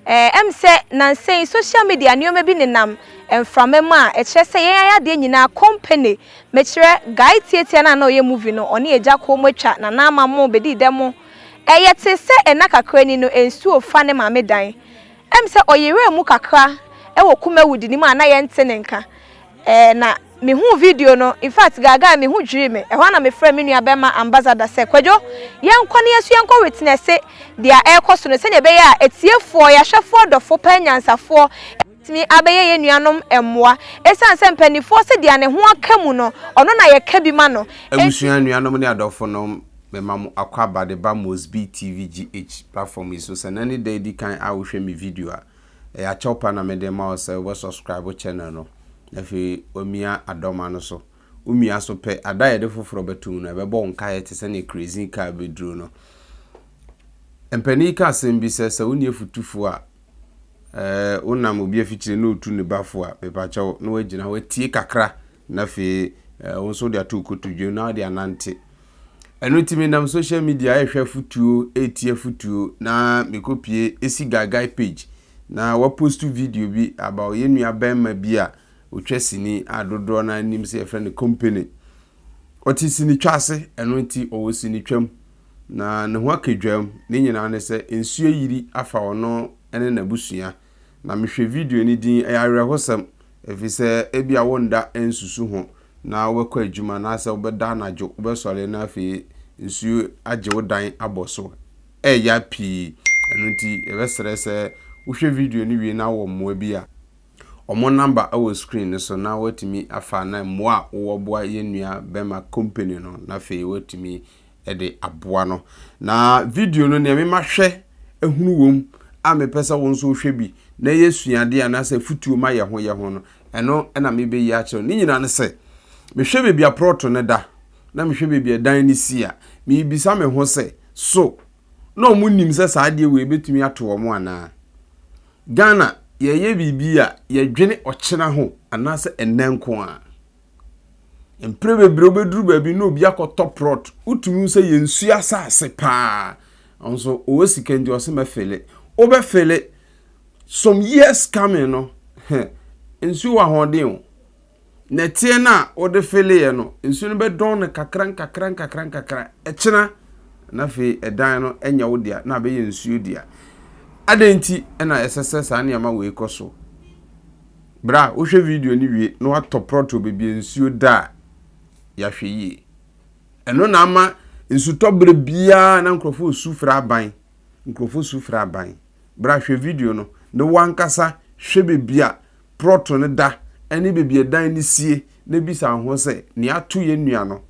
Ɛwom sɛ nnansa yi sohyial media nneɛma bi nenam mframa mu a ɛkyerɛ sɛ yɛn ayɛ adeɛ nyinaa company, mekyerɛ guy tiatia no a na ɔyɛ movie no, ɔne agya kɔɔ mu atwa nana ama mo bɛdii dɛ mo. Ɛyɛ te sɛ nna kakra ni no nsuo fa ne maame dan. Ɛwom sɛ ɔyeraa mu kakra wɔ Kumawudi no mu a na yɛnte ne nka. Ɛɛ na me huu video no in fact gaagaa me ho dwirii me ɛhɔ a na me frɛ me nua bɛma ambassador sɛ kwadwo yɛn kɔ na yɛn so yɛn kɔ witnesse deɛ ɛɛkɔ so no sɛdeɛ ɛbɛyɛ a atiefoɔ yɛahwɛfoɔ dɔfo paa nyansafoɔ ɛbɛtumi abɛyɛ yɛn nuanom mmoa ɛsiane sɛ mpaninfoɔ se deɛ ne ho aka mu no ɔno na yɛka bi ma no enti. Abusua, anuanom ne adɔfonom mema mo akɔ aba de ba Mosby TV GH platform yi so sɛ nnɛ ne da a ɛdi kan a wo hwɛ me video a. Ɛyɛ akyɛw pa na mede rema wo sɛ wobɛ subscribe wo channel no na afei wamia adɔma no so. Wo mia so pɛ, ada a yɛde foforɔ bɛto mu no, ɛbɛbɔ wo nkaeɛ te sɛdeɛ kerosene kaa bɛduro no. Mpanin yi ka asɛm bi sɛ, sɛ wonni afutufoɔ a, ɛɛ wonam obi afikyire na ɔtu ne ba fo a, mepakyɛw na wagyina hɔ atie kakra Na afei wo nso wode ato wo kotodwe na wode anante. Ɛno nti menam social media ɛrehwɛ afutuo, ɛretie afutuo na mekɔpie ɛsi guy guy page na wapostu video bi about yɛn nua bɛrima bi a ɔtwa sini a dodoɔ no anim sɛ yɛfrɛ no company. Ɔte sini twa ase, ɛno nti ɔwɔ sini twam na ne ho akadwam. Ne nyinaa ne sɛ nsuo ayiri afa ɔno ne n'abusua. na mehwɛ video no din Ɛyɛ Awerɛhosɛm, efisɛ ebia worennda ansusu ho na wobɛkɔ adwuma anaasɛ wobɛda anadwo, wobɛsɔre na afei nsuo agye wo dan abɔ so. Ɛreya pii. Ɛno nti, yɛbɛsrɛ sɛ wohwɛ video no wie na wowɔ mmoa bi a, wɔn namba wɔ screen no so na woatumi afa na mmoa a wowɔ boa yɛn nua bɛma company no na afei woatumi de aboa no. Na video no nea mema hwɛ hunu wom a mepɛ sɛ wo nso wohwɛ bi na ɛyɛ suadeɛ anaasɛ afutuo ma yɛ ho yɛ ho no, ɛno na mebɛyi akyerɛ wo. Ne nyinaa ne sɛ, mehwɛ baabi a prɔto no da na mehwɛ baabi a dan no si a, mebisa me ho sɛ, so na wɔn nim sɛ saa adeɛ wei bɛtumi ato wɔn anaa? Ghana, yɛyɛ biribi a yɛdwene ɔkyena ho anaasɛ ɛnnɛ nko ara. Mprɛ bebree wobɛduru baabi na obi akɔtɔ prɔt, wotumi hu sɛ yɛnsu asase paa, nso ɔwɔ sika nti ɔse mɛfele. Wobɛfele, some years coming no, heh, nsuo wɔ ahoɔden o. Nɛteɛ no a wode feleeɛ no, nsuo no bɛdɔn no kakra nkakra nkakra nkakra, ɛkyena na afei ɛdan no nyɛ wo dea na abɛyɛ nsuo dea. Adɛn nti na ɛsɛ sɛ saa nneɛma wei kɔ so? Bere a wohwɛ video no wie na wɔatɔ prɔtoo baabi a nsuo da a, yɛahwɛ yie. Ɛno na ama nsutɔ bere biara na nkurɔfoɔ resu frɛ aban. Nkurɔfoɔ su frɛ aban. Bere a hwɛ video no na wo ankasa hwɛ baabi a prɔto no da ne baabi a dan no sie na bisa wo ho sɛ, nea ato yɛn nua no,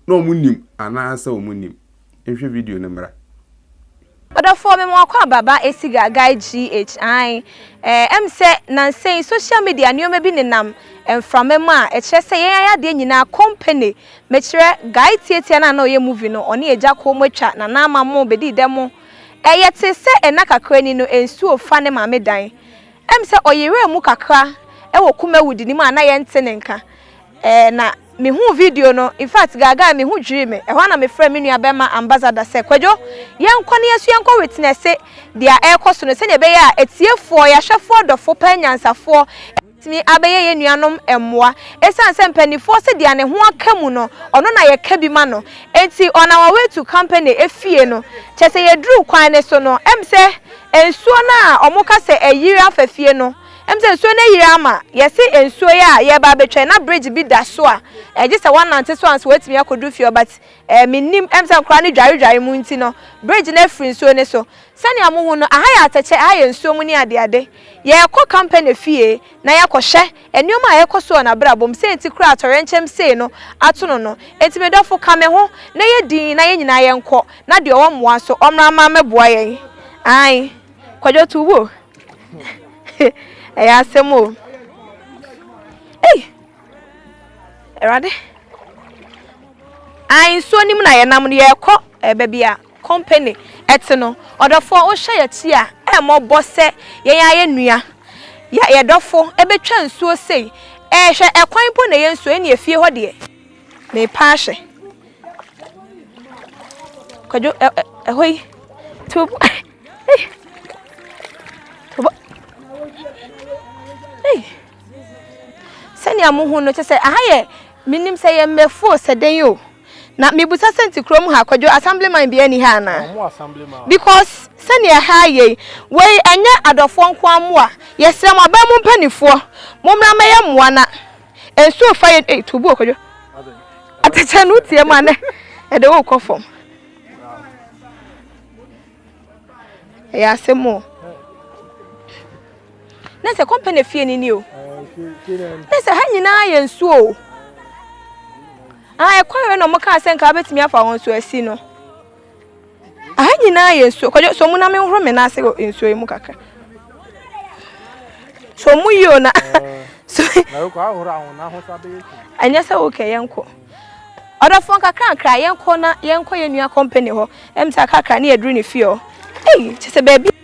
na wɔnim anaasɛ wɔnnim? nhwɛ video no mmra. Ɔdɔfoɔ me ma wakɔ aba ba asiga guy GH aane eh ɛm sɛ nansa yi social media nnoɔma bi nenam mframa mu a ɛkyerɛ sɛ yɛn ayadeɛ nyinaa company mekyerɛ guy tiatia no a na ɔyɛ movie no ɔne agya kɔɔ mu atwa nana ama mo bɛdii dɛ mo ɛyɛ te sɛ ɛna kakra ni no nsuo fa ne maame dan Ɛm sɛ ɔyeree mu kakra wɔ Kumawudi no mu a na yɛnte ne nka. Ɛɛ na me huu video no, in fact gaagaa me ho dwirii me. Ɛhɔ a na me frɛɛ me nua bɛma Ambassador sɛ Kwadwo yɛnkɔ na yɛnso yɛnkɔ witnesse dea ɛɛkɔ so no sɛdeɛ ɛbɛyɛ a atiefoɔ, yɛahwɛfoɔ, adɔfoɔ paa anyansafoɔ bɛtumi abɛyɛ yɛn nuanom mmoa. Ɛsiane sɛ mpaninfoɔ se dea ne ho aka mu no ɔno na yɛka bi ma no nti on our way to company efie no kyɛsɛ yɛduruu kwan no so no ɛm sɛ Nsuo no a ɔmo ka sɛ ayiri afa fie no, ɛm sɛ nsuo no ayiri ama, yɛse nsuo yi a yɛɛba abɛtwa yi na bridge bi da so a ɛgye sɛ woanante so ansa woatumi akɔdu fie hɔ but ɛɛ mennim, ɛm sɛ nkoraa no dware dware mu nti no bridge no afiri nsuo no so. Sɛnea mohu no aha yɛ atɛkyɛ, aha yɛ nsuo mu ne adeade. Yɛɛkɔ company fie na yɛkɔhwɛ. Nneɛma a ɛrekɔ so wɔ n'abrabɔ mu, sɛ nti koraa a atɔyerɛnkyɛm sei no ato no no. Enti me dɔfo, ka me ho, na yɛ dinn, na yɛn nyinaa yɛnkɔ, na deɛ ɔwɔ mmoa nso, ɔmmra mma mmɛboa yɛn. Aane. Kwadwo to wo o. Ɛyɛ asɛm o. Ei! Awurade. Aane, nsuo no mu na yɛnam no, yɛrekɔ baabi a. Company ɛte no ɔdɔfoɔ wohyɛ yɛakyi a ɛmmɔbɔ sɛ yɛn ara yɛn nua yɛ yɛn dɔfo ɛbɛtwa nsuo sei ɛɛ hwɛ ɛkwan mpo na ɛyɛ nsuo ɛnneɛ fie hɔ deɛ meepa ahwɛ kwadwo ɛ ɛ ɛhɔ yi to ei tobɔ ei sɛnea mo ho no kyɛ sɛ aha yɛ menim sɛ yɛ mmɛfuo sɛ dɛn o. Na mebisa sɛ nti kurom ha kwadwo assemblyman biaa nni ha anaa? Ɔmo assemblyman. Because sɛnea ɛha ayɛ yi wei ɛnyɛ adɔfoɔ nkoaa mmoa yɛsrɛ mo aban mu mpanifoɔ mommra mmɛyɛ mmoa na nsuo fa yɛn ei tuubu o kwadwo atɛkyɛ no wotie mu a nɛ ɛde wo kɔ fam ɛyɛ asɛm o. na sɛ kɔmpɛ na fie ni ni o na sɛ ha nyinaa yɛ nsuo o ɛkwan wei na ɔmo kaa sɛ nka abɛtumi afa wɔn so asi no aha nyinaa yɛ nsuo kɔdwo so ɔmo na me nhoro me nan ase wɔ nsuo yi mu kakra so ɔmo yi o na so ɛnyɛ sɛ wokɛ yɛn kɔ ɔdɔfoɔ kakra nkra yɛn kɔ na yɛn kɔ yɛn nua kɔmpɛ ne hɔ ɛm sɛ akakra ne yɛduru ne fie hɔ ɛyi kyɛ sɛ baabi.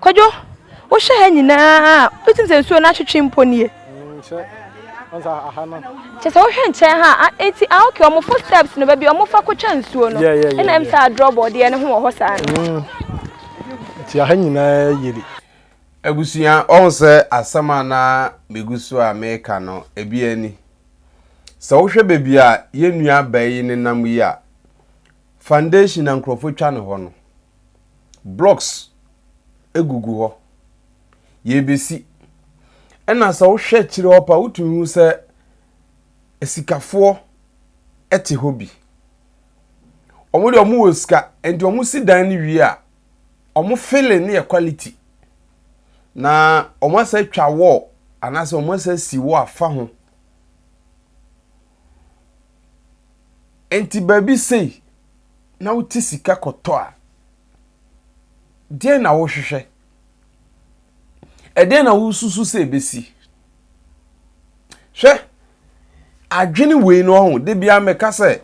Kwadwo, wohwɛ ha nyinaa a, wotim sɛ nsuo no atwetwe mpo nie? Nkyɛ, ɔnsa aha no. Kyɛ sɛ wohwɛ nkyɛn ha a, eti ah okay, wɔn footsteps no baabi a wɔfa kotwa nsuo no. Yeah, yeah, yeah. Ɛna ɛm sɛ adrɔ bɔdeɛ no ho wɔ hɔ saa no. Mm. Ti aha nyinaa yiri. Abusua, ɔhu sɛ asɛm a na megu so a meka no, ebi ani. Sɛ wohwɛ baabi a yɛn nua baa yi nenam yi a, foundation na nkurɔfoɔ twa ne hɔ no, blocks gugu hɔ. Yɛrebɛsi. Ɛna sɛ wohwɛ akyire hɔ paa wotumi hu sɛ asikafoɔ te hɔ bi. Wɔn deɛ wɔn wɔ sika nti wɔn si dan no wie a wɔn filling no yɛ quality. Na wɔn asɛ atwa wall anaasɛ wɔn asɛ asi wɔ afa ho. Nti baabi sei na wode sika kɔtɔ a, deɛn na wohwehwɛ? Ɛdeɛn na wosusu sɛ ɛbɛsi? Hwɛ, adwene wei no ɔho, da biara mɛka sɛ,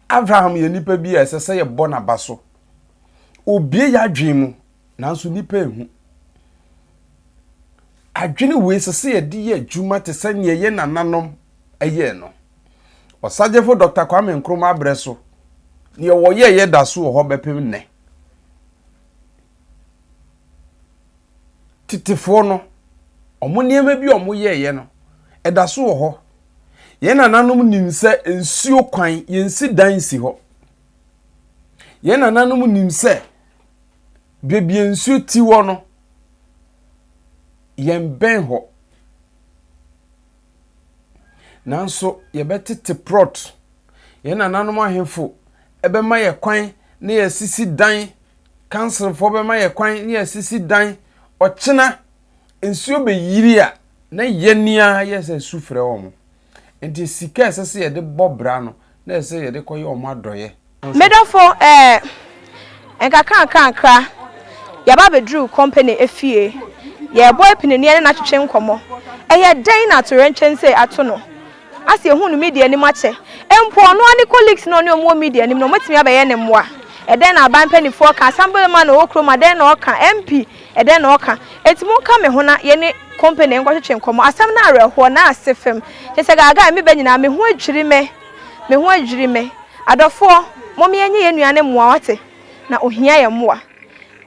Abraham yɛ nipa bi a ɛsɛ sɛ yɛbɔ n'aba so. Obie yɛ adwene mu, nanso nipa ehu. Adwene wei sɛ sɛ yɛde yɛ adwuma te sɛ nea ɛyɛ nananom ɛyɛ no. Ɔsagyefo Dɔkta Kwame Nkrumah bere so, nea wɔyɛeɛ da so wɔ hɔ bɛpem nnɛ. Tetefoɔ no, wɔn nneɛma bi a wɔyɛeɛ no, ɛda so wɔ hɔ. Yɛn nananom nim sɛ nsuo kwan, yɛnsi dan nsi hɔ. Yɛn nananom nim sɛ baabi a nsuo ti hɔ no, yɛn bɛn hɔ. Nanso yɛbɛtete prɔt. Yɛn nananom ahemfo bɛma yɛn kwan na yɛasisi dan. Kanselfoɔ bɛma yɛn kwan na yɛasisi dan. Ɔkyena nsuo bɛyiri a, na yɛn ara yɛsɛ sufrɛ wɔn. Nti sika a ɛsɛ sɛ yɛde bɔ bra no, Na ɛsɛ sɛ yɛde kɔyɛ wɔn adɔeɛ. Me dɔfo eh, nkakrankakra yɛba bɛduruu company efie. Yɛrebɔ apininie ne no atwetwe nkɔmmɔ. Ɛyɛ dɛn na atoyerɛnkyɛm sei ato no ase? Ɛhuu no media anim akyɛ. Mpo ɔno ara ne colleagues no a ɔne wɔn wɔ media anim no, wɔatumi abɛyɛ ne mmoa. Ɛdɛn na aban mpanimfoɔ ka? Asɛm bɛma no wɔ kurom a, dɛn na ɔka? MP. Ɛdɛn na ɔka? Enti monka me ho na yɛne Kompene nkɔtwetwe nkɔmmɔ. Asɛm no awerɛhoɔ, n'ase fam. Kyerɛ sɛ gaagaa a ɛmeba nyinaa, me ho adwiri me. Me ho adwiri me. Adɔfoɔ, mom yɛnyɛ yɛn nua no mmoa, wate? Na ɔhia yɛn mmoa.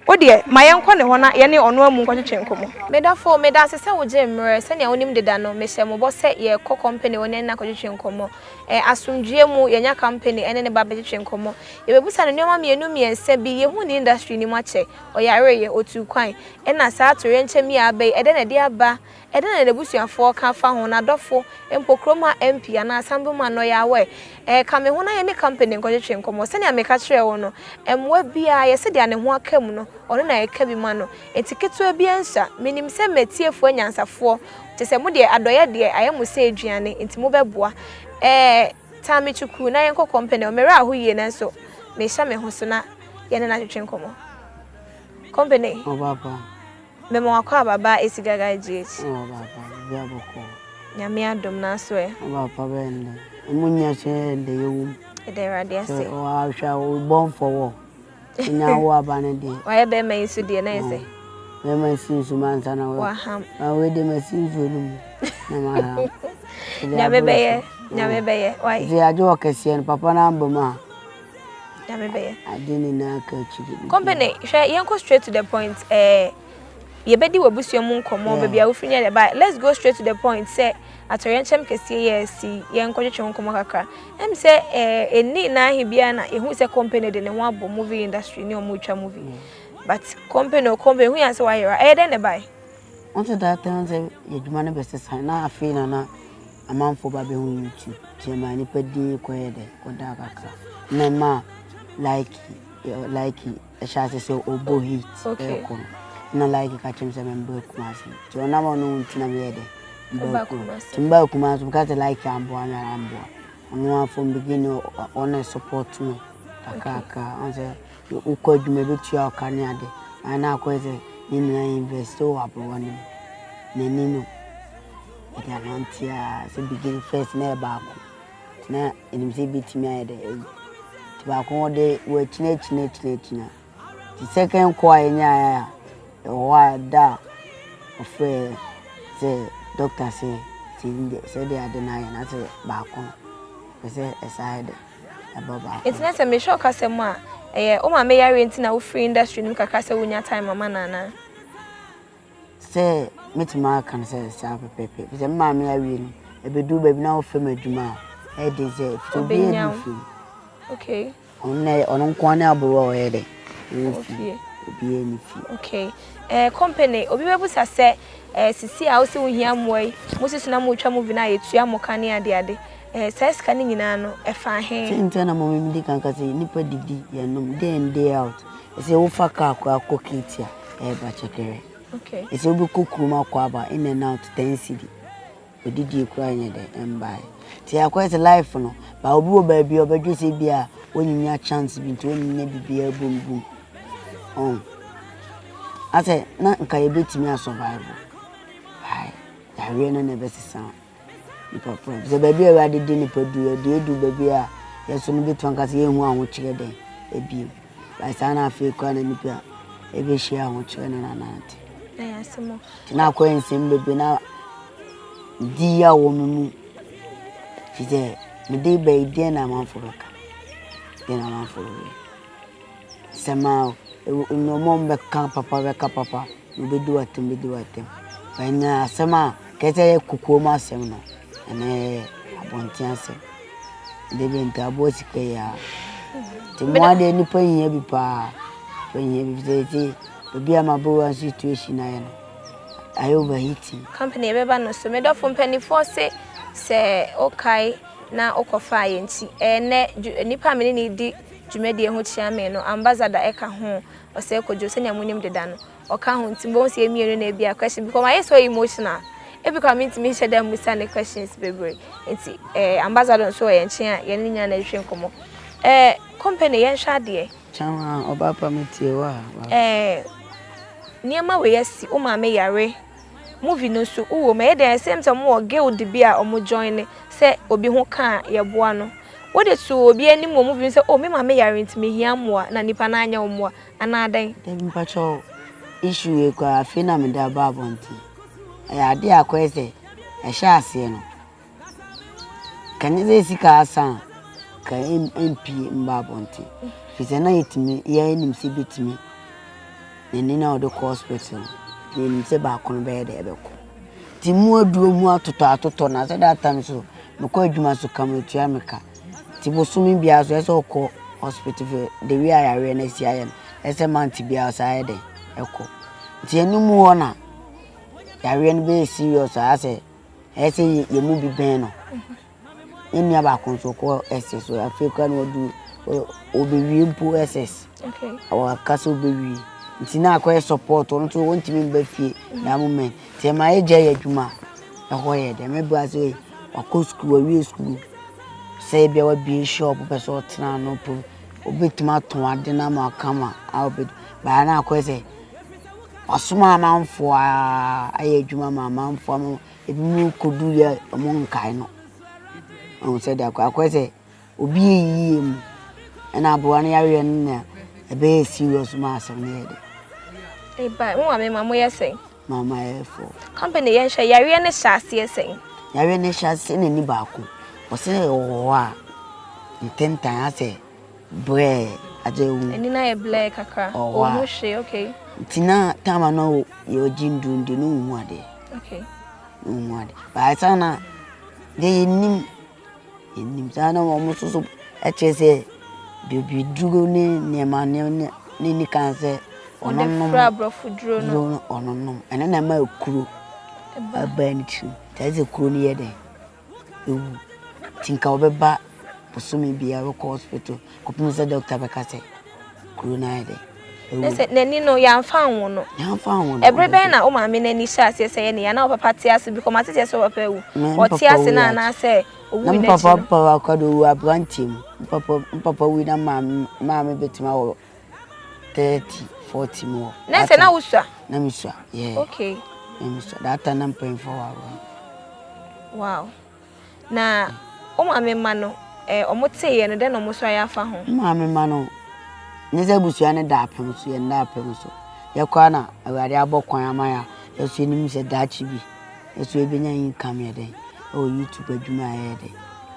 Wo deɛ, ma yɛnkɔ ne hɔ na yɛne ɔno amu nkɔtwetwe nkɔmmɔ. Me dɔfo, meda ase sɛ wogyee me mmerɛ. Sɛnea wonim deda no, mehyɛɛ mo bɔ sɛ yɛrekɔ Kompene hɔ na yɛne no akɔtwetwe nkɔmmɔ. Ɛ, asomdwoeɛ mu, yɛanya Kompene ne ne ba abɛtwetwe nkɔmmɔ. Yɛbɛbisa no nneɛma mmienu mmiɛnsa bi. Yɛhu ne industry no mu akyɛ. Ɔyareeɛ, ɔtuu kwan. Ɛna saa toyerɛnkyɛm yi a aba yi, ɛdɛn na ɛde aba? Ɛdɛn na n'abusuafoɔ ka fa ho, n'adɔfo, mpo kurom ha MP anaa Assemblyman no ɔyɛ aware? Ɛɛ, ka me ho na yɛne company nkɔtwetwe nkɔmmɔ. Sɛnea meka kyerɛɛ wo no, mmoa biara, yɛ sɛdeɛ ne ho aka mu no, ɔno na ɛka bi ma no. Enti ketewa biara nsua. Menim sɛ m'atiefoɔ anyansafoɔ, kyerɛ sɛ, mo deɛ, adɔeɛ deɛ ayɛ mo sɛ aduane, enti mobɛboa. Ɛɛ. Tami Chuku, Na yɛnkɔ kɔmpɛni hɔ. Mmerɛ a ho yie nanso mehyɛ me ho so na yɛne no atwetwe nkɔmmɔ. Kɔmpɛni. Ɔba pa. Mema wakɔ aba baa esi gaga GH. Ɔba pa, biribi a bɔkɔɔ. Nyame adom nanso ɛ. Ɔba pa bɛyɛ no dɛn? Ɛmu nyɛ so ɛ, ɛnde yɛwɔ mu. Yɛda Awurade ase. Sɛ woahwɛ a, wo bɔnfɔ wɔ hɔ. Nya wo aba no deɛ. Wayɛ bɛrima yi nso deɛ na yɛ sɛ. Bɛrima yi si nsu ma nsa na wɔ. Waham. Na wei deɛ ma si nsuo no mu na ma ha. Nyame bɛyɛ nyame bɛyɛ wayɛ. Nti agye wɔ kɛseɛ no papa no amba mu a. Nyame bɛyɛ. Ade nyinaa ka akyiri. Company hwɛ yɛnkɔ straight to the point ɛɛ. Eh. yɛbɛdi w'abusua mu nkɔmmɔ, baabi a wofiri ne adeɛ ba. Let's go straight to the point sɛ atɔyɛnkyɛm kɛseɛ yɛ asi yɛnkɔtwetwe nkɔmmɔ kakra. Ɛm sɛ ɛni eh, na ahe biara na ɛhu sɛ company de ne ho abɔ movie industry ne ɔmo twa movie. Mm. But company o company hu yɛn sɛ wayera ɛyɛ dɛn na ɛbae? Wọ́n ti daa tẹ́wọ́n sẹ́ yẹ adwuma no bẹ sesan na afei na na amanfoɔ ba bɛ ho YouTube ti ɛma nipa din kɔ yɛ dɛ kɔ da kakra na ɛma like like Ɛhyɛ ase sɛ ɔbɔ heat ɛkɔ no na like ka kyerɛ me sɛ mɛmba Kumasi nti ɔno ama ɔno nti na meyɛ dɛ mba Kumasi nti mba Kumasi meka sɛ like amboa me a amboa ɔno a from beginning ɔna support me kakrakra ɔn sɛ wokɔ adwuma ɛbɛtua wo ka ne ade na akɔyɛ sɛ ne nua invest wɔ aberewa no mu n'ani no ɛde anante a sɛ beginning first na ɛyɛ baako na ɛnim sɛ ɛbɛtumi ayɛ dɛ ɛyi nti baako wɔde wɔakyinakyinakyinakyina nti second kɔ a ɛnyaeɛ a ɛwɔ hɔ a da a ɔfrɛ sɛ dɔkta sɛ sɛ ɛnyɛ sɛ de ade no ayɛ na sɛ baako no pɛ sɛ ɛsa ayɛ dɛ ɛba baako nti na sɛ mehwɛ ɔkasa mu a ɛyɛ wo maame yareɛ nti na wofiri industry no mu kakra sɛ wonya time ama no anaa Sɛ mɛtumi aka no sɛ saa pɛpɛɛpɛ ɛfiri sɛ me maame awie no ɛbɛduru baabi na ɔfam adwuma a ɛyɛ den sɛ ɛfiri obi yɛ ne fie okay ɔno ɔno nko ne aboro a ɔyɛ dɛ ofie obi yɛ ne fie okay ɛɛ eh, company obi bɛbusa sɛ ɛɛ eh, sisi a wosi wohia mmoa yi mo sisi na mo twa mo vi na yɛtua mo ka ne ade ade ɛɛ eh, saa sika ne nyinaa no ɛfa he. sɛ nti na mo mi di kan kasi nipa didi yɛnom day in day out Sɛ wofa car koraa kɔ Kate a, ɛba kyɛkɛrɛ. Okay. Sɛ wobɛkɔ kurom akɔ aba in and out ten cedi. Odidie koraa nyɛ dɛ ɛmbae. Nti akɔyɛ sɛ life no, ba obi wɔ baabi a ɔbɛdwe sɛ bi a ɔnyinya chance bi nti ɔnyinya biribiara bom bom. Oh. Asɛ na nka yɛbɛtumi asurvive. Ae. Yareɛ no na ɛbɛsesa. Nipaporɔ, Sɛ baabi a Awurade de nnipa duru a, deɛ ɛduru baabi a yɛso no bɛtumi aka sɛ yɛnhu ahokyerɛ dɛn bio? Like saa na afei koraa na nnipa ɛbɛhyia ahokyerɛ no na nante. Nti na akɔyɛ nsɛm bebree na di ya wɔ me mu fi sɛ mede bɛyi deɛ na amanfo bɛka deɛ na amanfo bɛyɛ Sɛ ma nneɛma a wɔbɛka papa bɛka papa na obedi w'atɛm bedi w'atɛm. Ɛnyɛ asɛm a ɛyɛ sɛ ɛyɛ kokoam asɛm no, ɛno yɛ abɔnten asɛm. Ɛde bɛn nti aboa sika yi a. Nti mmoa deɛ nnipa hia bi paa. Nnipa hia bi sɛ ɛti baabi a mabowa situation ayɛ no ayɛ overheating. Company ɛbɛba no so. Me dɔfo mpanimfoɔ se sɛ wokae na wokɔfaa yɛn nti ɛyɛ nnɛ nnipa a me ne no di dwumadie ho kyea me no ambassador ɛka ho ɔsɛɛ kwadwo sɛnea mo nim deda no ɔka ho nti mobɛhu sɛ yɛ mmienu no ebia question because wayɛ so emotional ebi koraa mentumi nhyɛ da mmusa ne questions bebree nti eh ambassador nso wɔ yɛn nkyen a yɛne ne nyinaa na yɛtwetwe nkɔmmɔ eh company yɛnhwɛ adeɛ. Kyanwa ɔbaapa metie wo a w'aso. Eh nneɛma wei asi wo maame yare Movie no so wo wɔ mu ɛyɛ dɛn a same time ɔmo wɔ guild bi a ɔmo joine sɛ obi ho ka a yɛboa no wode too obi anim wɔ movie mu sɛ oh me maame yare nti mehia mmoa na nipa no anyɛ wo mmoa anaa dɛn? Dabi mpakyɛw issue wei koraa afei na mede aba abɔnten ɛyɛ adeɛ a akɔyɛ sɛ ɛhyɛɛ aseɛ no Ka nyɛ sɛ sika asa a, ka ɛmpie mba abɔnten. Firi sɛ na yɛtumi, yɛnim sɛ bɛtumi. N'ani na ɔde kɔ hospital. Yɛnim sɛ baako no bɛyɛ dɛ ɛbɛkɔ. Nti mu aduro mu atotɔ atotɔ na sɛ that time so mekɔ adwuma so ka metua me ka. Nti bosome biara so ɛsɛ ɔkɔ hospital for the way a yareɛ no asi ayɛ no ɛsɛ month biara ɔsan ayɛ dɛ ɛkɔ. Nti ɛno mu hɔ na yareɛ no bɛyɛ serious a asɛ. ɛyɛ sɛ yɛn mu bi bɛn no ne nua baako nso kɔ ss so afei kora na ɔdu ɔbɛwie mpo ss ɔka sɛ ɔbɛwie nti na akɔyɛ support ɔno nso ɔntumi mba fie na moment nti ɛma yɛgya yɛ adwuma ɛhɔ yɛ dɛ mɛbra sɛ wakɔ sukuu wawie sukuu sɛ ebia wabie shop pɛ sɛ ɔtena no po obɛtumi atɔn ade no ama ɔkama a ɔbɛdi baa na akɔyɛ sɛ Wasoma amanfoɔ ara ayɛ adwuma ma amanfoɔ ama ebinom kɔduru yɛ a wɔnkae no. Woahu sɛdeɛ akɔ akɔyɛ sɛ obi yɛ yie mu ɛna aboa no yareɛ no na ɛbɛyɛ serious ma asɛm no yɛ dɛ. Eba, mo maame ma moyɛ sɛn? Maame ayɛ fo. Company yɛn hwɛ yareɛ no hyɛ aseɛ sɛn? Yareɛ no hyɛ aseɛ na ani baako. Wɔsɛ ɛwɔ hɔ a ntɛntɛn asɛ. blɛɛ adze ewu. Ani no ayɛ blɛɛ kakra. Ɔwɔ a. Ɔnhu hwee, okay. Ntsi na time a na ɔ yɛ ɔgye ndur no de no nnhu ade. Okay. No nnhu ade. But ansa na dɛ yennyim yennyim saa na wɔn nso so kyerɛ sɛ baabi duro ne nneɛma nneɛma ne ne ni kan sɛ ɔnonom. Wɔde fura aborɔfo duro no. Duro no ɔnonom. Ɛno na ɛma kuro ɛbaa ne tirim. Kyerɛ sɛ kuro no yɛ dɛn. ewu nti nka wɔbɛba bosome biara wɔkɔ hospital kɔpem sɛ doctor bɛka sɛ kuro no ayɛ dɛ sɛ n'ani no yɛamfa anwo no ɛberɛ bɛn na wo maame n'ani hyɛ aseɛ sɛ yɛ ne yɛ na wo papa te ase bi kɔma teteɛ sɛ wɔpɛ awu ɔte ase no anaasɛ ɔwu n'akyi no papa papa akɔde ɔwu aberanteɛ mu papa wui na maame bɛtumi awɔ thirty forty mu hɔ. na sɛ na wosua. na mi sua yeah. okay na mi sua that time na mpanyinfoɔ wɔ agorɔ. wow na o maame ma no ɛɛ eh, wɔn te yɛ no dɛ na wɔn nso ayɛ afa ho. maame ma no ne sɛ busua ne da apem so yɛn da apem so yɛkɔ a na awurade abɔ kwan ama ya yɛso anim sɛ daakye bi yɛso ebenya income yɛ dɛ ɛwɔ youtube adwuma yɛ dɛ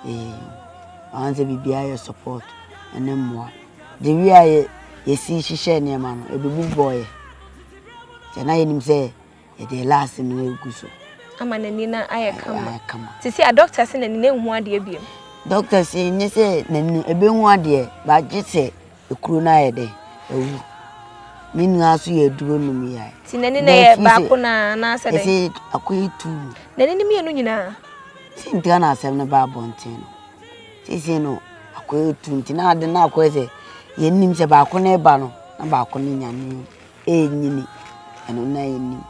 ee wɔn sɛ biribiara yɛ support ɛne mmoa. Gye wie a yɛsii hyehyɛɛ nneɛma no, ɛbɛbu bɔeɛ. Sɛ na yɛnim sɛ ɛdeɛ last no ɛgu so. Ama n'ani no ayɛ kama. Ayɛ kama. Te sɛ a doctor se n'ani no ɛnhu adeɛ biom. Doctor se nyɛ sɛ n'ani no ɛbɛhu adeɛ but gye sɛ ɛkuro no ayɛ dɛ awu. Me nua nso yɛ aduro nom yae. Ti n'ani no yɛ baako na anaasɛ dɛn? Ɛsɛ akɔyɛ two. N'ani no mmienu nyinaa? Sɛ ntira na asɛm no ba abɔnten no. Seesei no, akoa atu nti na ade no akɔyɛ sɛ yɛnnim sɛ baako no reba no na baako no nyane o, ɛrenyini. Ɛno na yɛnnim.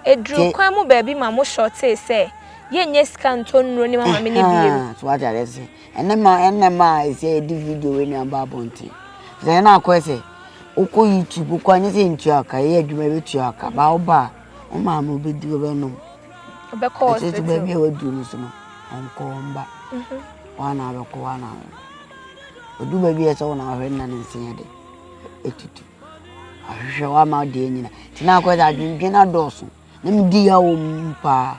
Ɛduruu kwan mu baabi ma mo shortee sɛ yɛnyɛ sika ntɔ nnuro ne ma maame no bio. So wate adeɛ sɛ ɛnɛ ma ɛnɛ ma a ɛsɛ yɛde video wei na aba abɔnten. Sɛ ɛnɛ akɔyɛ sɛ wokɔ YouTube kɔ anyɛ sɛ ntua ka yɛ adwuma bɛtua ka baa woba a wo maame wobɛdi wobɛnom. ɔbɛkɔ hospital. Ɛsɛ sɛ baabi a waduru no so no ɔnkɔ ɔmba wana mhm. abɛkɔ wana ɔnkɔ ɔdu baabi a ɛsɛ wana ɔhwɛ nna ne nseɛ de ɛtutu ahwehwɛ wama deɛ nyina nti na akɔ sɛ adwendwen adɔɔso na medi ya wɔ mu paa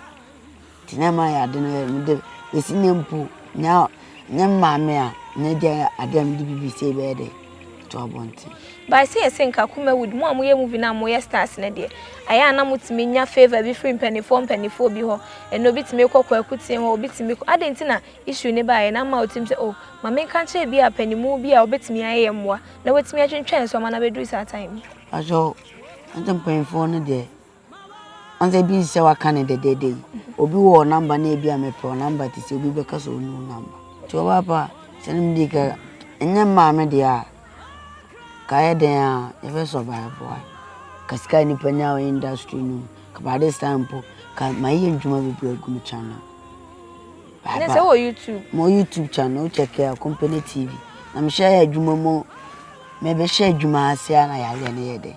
nti na ɛma yɛ ade no yɛ mede bɛsi ne mpo nyɛ maame a nyɛ gya adeɛ a mede bibi sɛ bɛyɛ dɛ to abɔnten. By sɛ yɛse nka Kumawood mo a moyɛ movie no a moyɛ stars no deɛ ayɛ a na motumi nya favour bi firi mpaninfoɔ mpaninfoɔ bi hɔ ɛnɛ obi tumi kɔ Kwaku Tee hɔ obi tumi kɔ adɛn nti na issue no baeɛ na ama ɔtim sɛ oh ma me nka nkyerɛ bi a panimu bi a ɔbɛtumi ayɛ yɛ mmoa na watumi atwentwɛn nsoɔma no abɛduru saa time yi. Pakyɛw na sɛ mpaninfoɔ no deɛ Ansɛ bi sɛ waka no dɛdɛɛdɛ yi obi wɔ namba na ebi a mepɛ namba te sɛ obi bɛka sɛ ɔnu namba nti ɔbaa pa sɛ no mede ka ɛnyɛ mmaa me deɛ a ka yɛ dɛn a yɛbɛ survive a ka sika nipa nya wɔ industry no ka by this time po ka ma yɛ ndwuma bebree agu me channel ne sɛ wɔ youtube mo youtube channel wokyɛkɛ a company tv na mehyɛ yɛ adwuma mu mebɛhyɛ adwuma ase a na yɛayɛ ne yɛ dɛn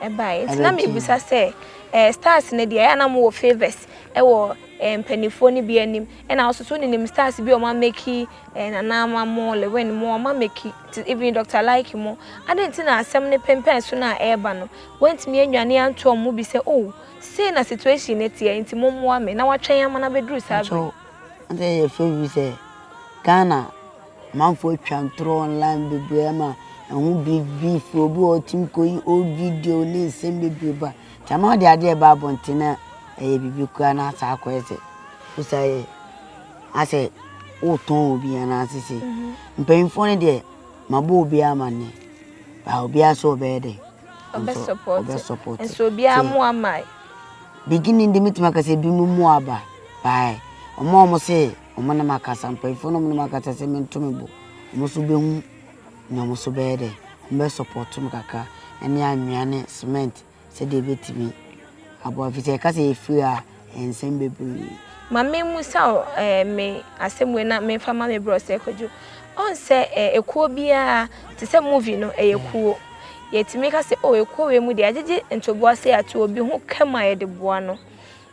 ɛbaeɛ nti na mebisa sɛ eh, stars no deɛ ɛyɛ na mowɔ favors ɛwɔ eh, mpanimfoɔ no bi anim ɛna wo soso ne nim stars bi ɔma meki eh, nanaama mo lewin mo ɔma meki nti even dr like mo adɛn nti na asɛm no pempɛn so no a ɛreba no woantumi anwane antoɔ mo bi sɛ oh sei na situation no teɛ nti mommoa me na watwɛn ama no abɛduru saa bere. Sɛ yɛ fɛ wi sɛ Ghana Amanfoɔ atwa ntorɔ online bebree ama ɛho biribi fi obi wɔ hɔ ɔtumi kɔyi old video ne nsɛm bebree ba nti ama ɔde adeɛ ba abɔnten na ɛyɛ biribi koraa na asa akɔyɛ sɛ wosa yɛ asɛ wotɔn obi anaase sɛ mpanyinfoɔ no deɛ mabɔ obi amanne ba obiara sɛ ɔbɛyɛ dɛ ɔbɛ support nso obiara mu ama beginning de metumi akasɛ bi mu mu aba baa ɔmo a ɔmo sɛ Wɔne me akasa, mpanyimfoɔ no wɔne me akasa sɛ mento me bo. Wɔn nso bɛhu nea wɔn nso bɛyɛ dɛ, wɔbɛ support me kakra ne anwea ne cement sɛdeɛ ɛbɛtumi aboa ɛfiri sɛ yɛka sɛ yɛfiri a yɛnsɛm bebree. Ma me mmusa wo eh, me asɛm wei na me nfa ma me brɔ sɛ kwadwo. Ɔn sɛ eh, ekuo biara te sɛ movie no ɛyɛ yeah. kuo. Yɛtumi ka sɛ oh ekuo wei mu deɛ agyegye ntoboa sɛ ato obi ho kɛm a yɛde boa no.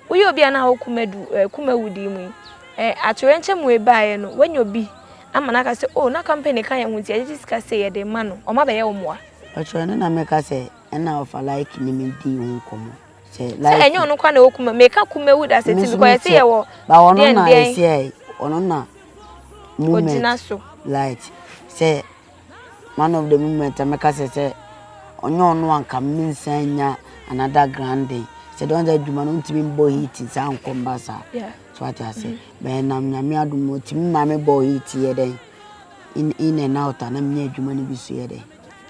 Woyɛ obi a na wo kumadu, eh, kumawudi mu yi, eh, atoyerɛnkyɛm wei baeɛ no, woanya obi ama no aka sɛ, oh, na company ka yɛn ho nti yɛde gye sika sei yɛde rema no, ɔma bɛyɛ wo mmoa? Mpakyɛw, ɛno na meka sɛ ɛna ɔfa like ne me dii ho nkɔmmɔ. Sɛ like. Sɛ ɛnyɛ ɔno kwa na ɛwɔ kuma, meka kumawu da sɛ ti because yɛte yɛ wɔ. Ba ɔno na ɛsɛ ɔno na movement. Ogyina so. Light sɛ. one of the moment a mɛka sɛ sɛ ɔnyɛ ɔno a nka mensan nya another grandin sɛ dɔn sɛ adwuma no ntumi mbɔ heat saa nkɔ mba saa so ate ase bɛyɛ nam nyame adom ɔtumi ma me bɔ heat yɛ dɛn in and out a na menyɛ adwuma no bi so yɛ dɛn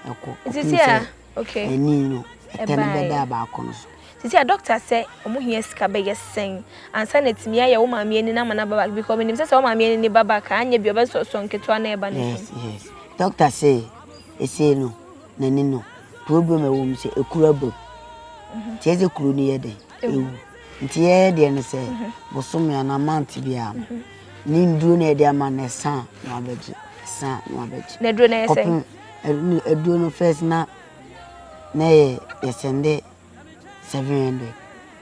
ɛkɔ kɔpem sɛ Okay. Ani no, ɛtɛ no bɛda baako no so. Sisi a doctor sɛ ɔmo hia sika bɛyɛ sɛn ansa na etumi ayɛ wo maame ani no ama n'aba back because menim sɛ sɛ wo maame ani ne ba back a anyɛ bi ɔbɛsɔsɔ nketewa na ɛba n'anim. Yes yes. Doctor sɛ esei no n'ani no problem a ɛwɔ mu sɛ ekuru abam. Mhm. Tiɛ sɛ kuru no yɛ dɛ ewu. Nti yɛyɛ deɛ no sɛ mhm. bosome anaa month biara no mhm. ne nduro na yɛde ama no ɛsa na wabɛgye ɛsa na wabɛgye. Na duro na yɛ sɛ. Ɛno aduro no first na na ɛyɛ yɛ sɛnde seven hundred.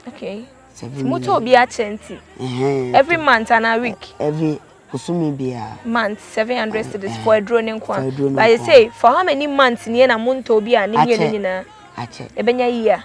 okay seven million moto obi akyɛ nti. every month ana week. E, every kusumi biara. month seven hundred eh, cedis eh, for aduro ne nko a. for aduro ne nko a. but you say for how many months ni na mo ntɔ obi a ne mmienu nyinaa. akyɛ ebɛnya yia.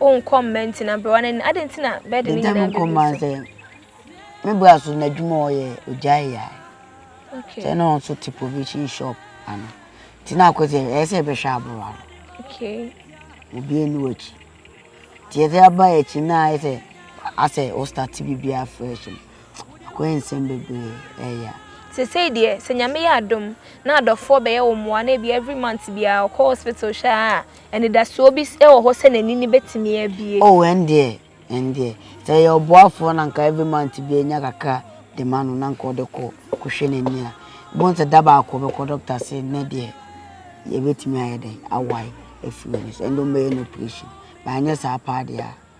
O nkɔ mma ntina aberewa no anim. Adɛn nti na bɛɛde ne nyinaa bɛgu so? nkɔma sɛ me bra so n'adwuma a ɔyɛ ogyae yɛ okay. sɛ na ɔnso te provision shop ano nti na akɔ sɛ ɛyɛ sɛ ɛbɛhwɛ aberewa no okay. obi ani w'akyi nti yɛsɛ aba akyi na ayɛ sɛ asɛ ɔstate biribiaa fresh no akɔyɛ nsɛm bebree ɛyɛ a sesei deɛ sɛ nyame yɛ adom na adɔfoɔ bɛyɛ wo mmoa na ebi every month biara ɔkɔ hospital hyɛ a Anidasoɔ bi wɔ hɔ sɛ n'ani no bɛtumi abue. Oh ɛndeɛ ɛndeɛ sɛ ɛyɛ ɔboafoɔ na nka every month biara ɔnya kakra de ma no na nka ɔde kɔ kɔhwɛ n'ani a wobɛhu sɛ da baako ɔbɛkɔ doctor ase nnɛ deɛ yɛbɛtumi ayɛ dɛn awae afiri w'ani so ɛnde wɔbɛyɛ no operation but anyɛ saa paa deɛ a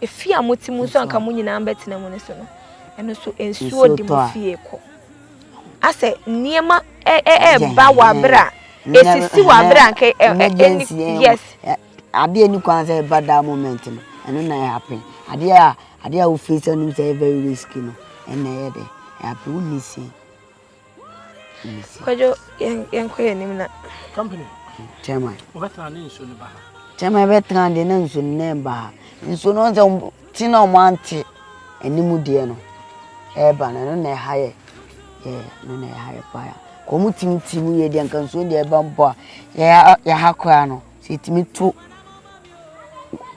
Efie a mote mu nso a anka mo nyinaa bɛtena mu no so no, ɛno nso nsuo de mo fie kɔ. Asɛ nneɛma ɛba wɔ abere a esisi wɔ abere a anka ɛni yes. Adeɛ ni kwan sɛ ɛba that moment no ɛno na ɛhappen adeɛ a adeɛ a wofiri sɛ nim sɛ ɛyɛ very risky no ɛna ɛyɛ dɛ ɛhappen wonni si. kwadwo yɛnkɔ yɛ anim na chairman wobɛtena ne nsuo no ba ha chairman bɛtena deɛ na nsuo no na ɛba ha nsuo no sɛ ti na ɔmo ante anim deɛ no ɛba no ɛno na ɛha yɛ yɛ no na ɛha yɛ paa ya kɔn mo timi timi yɛ deɛ nka nsuo deɛ ɛba mpo a yɛha koraa no sɛ ɛtumi to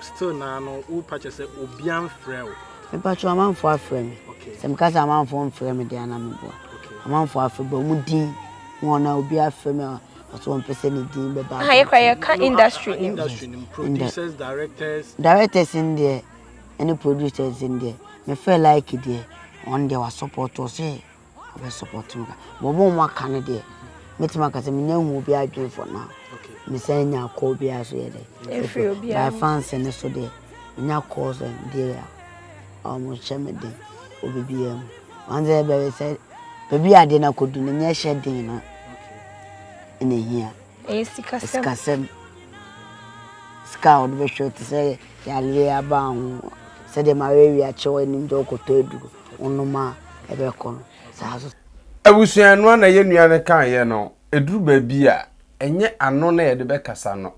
Still naa no wo pa kyɛ sɛ obia nfrɛ wo. Mepa kyɛw amanfoɔ afrɛ me sɛ me ka sɛ amanfoɔ nfrɛ me deɛ anaa me boa amanfoɔ afrɛ but ɔmo din ho anaa obia afrɛ me a ɔsɛ ɔmpɛ sɛ ne din bɛ ba. Aha yɛ kora yɛ ka industry nim. Industry nim producers directors. Directors no deɛ ɛne producers no deɛ me frɛ Lykke deɛ ɔno deɛ wa support ɔsɛ. Ɔbɛ support me ka but wɔn a wɔn aka no deɛ mɛtumi aka sɛ menya nhu obi adwene for now mesan nya call bi a so yɛ dɛ ɛfiri obi a by fans ne so deɛ menya calls and deɛ a wɔn hyɛ me den obi biara mu wɔn sɛ bɛyɛ sɛ baabi a adeɛ no akɔdu no nyɛ hyɛ den no ɛna ehia ɛyɛ sikasɛm sikasɛm sika a wɔde bɛhwɛ te sɛ yareɛ aba ho sɛdeɛ ma wɔawi akyɛ wɔn anim deɛ wɔkɔtɔ aduro Abusua noa na yɛn nua no kaeɛ no, ɛduru baabi a, ɛnyɛ ano na yɛde bɛkasa no.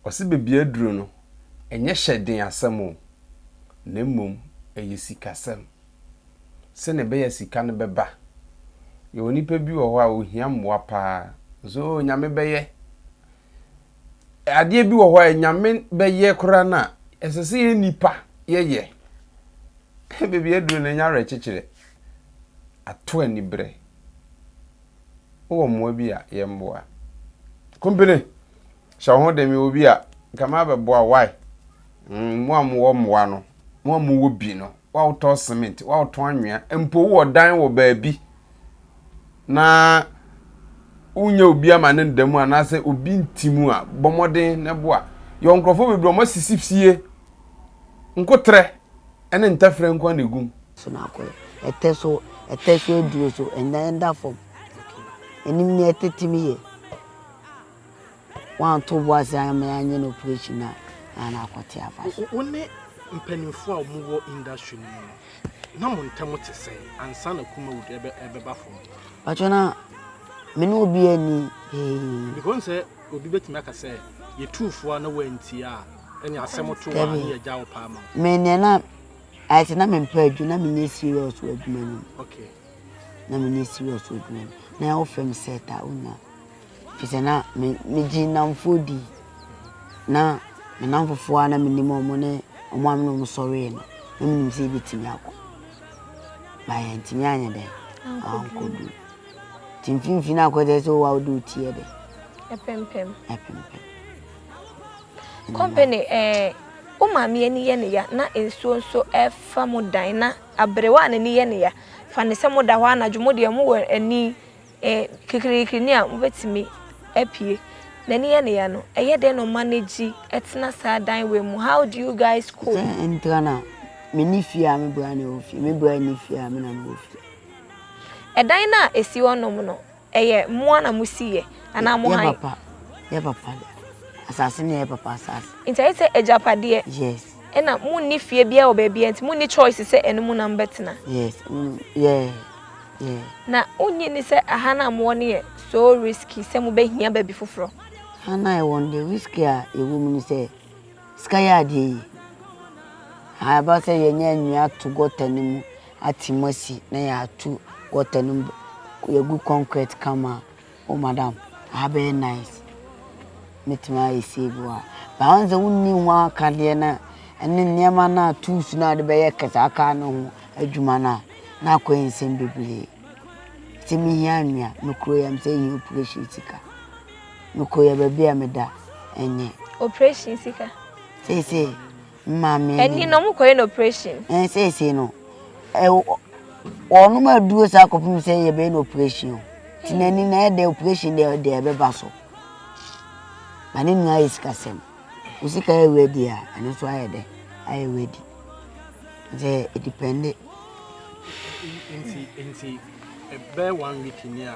Ɔse baabi aduru no, ɛnyɛ hyɛden asɛm o, na mmom ɛyɛ sikasɛm. Sɛnea ɛbɛyɛ a sika no bɛba. Yɛwɔ nnipa bi wɔ hɔ a, wɔhia mmoa paa. Nso oo, Nyame bɛyɛ. adeɛ bi wɔ hɔ a Nyame bɛyɛ koraa no a, ɛsɛ sɛ yɛ nipa yɛyɛ. Baabi aduru no, ɛnyɛ awerɛkyekyerɛ. Ato aniberɛ. Wowɔ mmoa bi a, yɛ mmoa. Kompene, hyɛ wo ho den, mewɔ bi a, nka mabɛboa, why? Mm, mo a mowɔ mmoa no, mo a mowɔ bi no, woatɔn cement, woatɔn anwea, mpo wowɔ dan wɔ baabi na wonyɛ obi ama ne nda mu anaasɛ obi nti mu a, bɔ mmɔden na boa. Yɛwɔ nkurɔfoɔ bebree wɔn asisi fie, nkoterɛ ne ntɛferɛ nko na egum. So na akɔ ɛtɛ so ɛtɛ so aduro so ɛnda ɛnda fam ɛnim ne ɛtete mi yɛ. wɔanto bo ase amma yɛanyɛ no operation a, na na akɔte afa so. Wo ne mpanimfoɔ a wɔwɔ industry no mu no, na mo ntam te sɛn ansa na Kumawood rebɛba fam? Pakyɛ na me ne obiara nni hee. Because n sɛ obi bɛtumi aka sɛ yɛtuu fo a na woantie a, ɛne asɛm to a ne yɛagya wo paa ma wo. Me deɛ na ayɛ sɛ na mempɛ adwuma, na menyɛ serious wɔ adwuma no mu. Okay. Na menyɛ serious wɔ adwuma no mu. Na wofrɛ me set a, wonnya. Kyerɛ sɛ na me megye nnamfoɔ di. Na me nnamfofoɔ a na menim wɔn ne wɔn a me ne wɔn sɔree no, na menim sɛ yɛbɛtumi akɔ. But yɛantumi anyɛ dɛn? Ankɔduru. Nti mfimfini no akɔyɛ dɛ sɛ wo a wode wo ti yɛ dɛn? Ɛpempem. Ɛpempem. Company, eh, wo maame ani yɛ ne ya na nsuo nso refa mo dan na aberewa a n'ani yɛ ne ya fa ne sɛ moda hɔ anadwo, mo deɛ mowɔ ani E Kikirikiri ne a wobɛtumi apue N'ani yɛ ne ya no Ɛyɛ dɛn na ɔma no gyi Ɛtena saa dan wei mu How do you guys cope? Sɛ ɛntra no a Me nni fie a me bra na ɛwɔ fie Me bra nni fie a me na mewɔ fie. Ɛdan no a ɛsi hɔ nom no Ɛyɛ mo ara na mo si yɛ anaa mo han? Yɛ papa Yɛ papa de Asase no yɛ yɛ papa asase. Nti ayɛ sɛ agyapadeɛ? Yes. Ɛna mo nni fie biara wɔ baabiara nti mo nni choice sɛ ɛno mu na mo bɛtena? Yes mm yɛ. Na wonnye nni sɛ ɛha no a mowɔ no yɛ so risky sɛ mobɛhia baabi foforɔ? Ha no a yɛwɔ no deɛ, risky a ɛwɔ mu ne sɛ, sika yɛ adeɛ yie. Ha ɛba sɛ yɛnya nnua ato gɔta no mu, ate mu asi na yɛatu gɔta no mu, yɛagu concrete kama a, Oh madam aha bɛyɛ nice mɛtumi ayɛ sei bi wɔ ha but woahu sɛ wonni ho akadeɛ no a ɛne nneɛma no a tools no a wode bɛyɛ saa car no ho adwuma no a na akɔyɛ nsɛm bebree sɛ mehia anwea me kuro yam sɛ ɛhia operation sika me kuro yɛ baabi a meda ɛnyɛ operation sika seesei Maame ni. Ɛni na ɔmo kɔyɛ no operation. Ɛn seesei no ɛ wɔnom aduro saa kɔpem sɛ yɛbɛyɛ no operation o. Ti n'ani na ɛdɛ operation deɛ ɔde ɛbɛba so. Ba ne nua ayɛ sikasɛm. Wo sika yɛ ready a ɛno nso ayɛ dɛ ayɛ ready. Sɛ ɛdipɛnde. Nti nti ɛbɛ one week ni a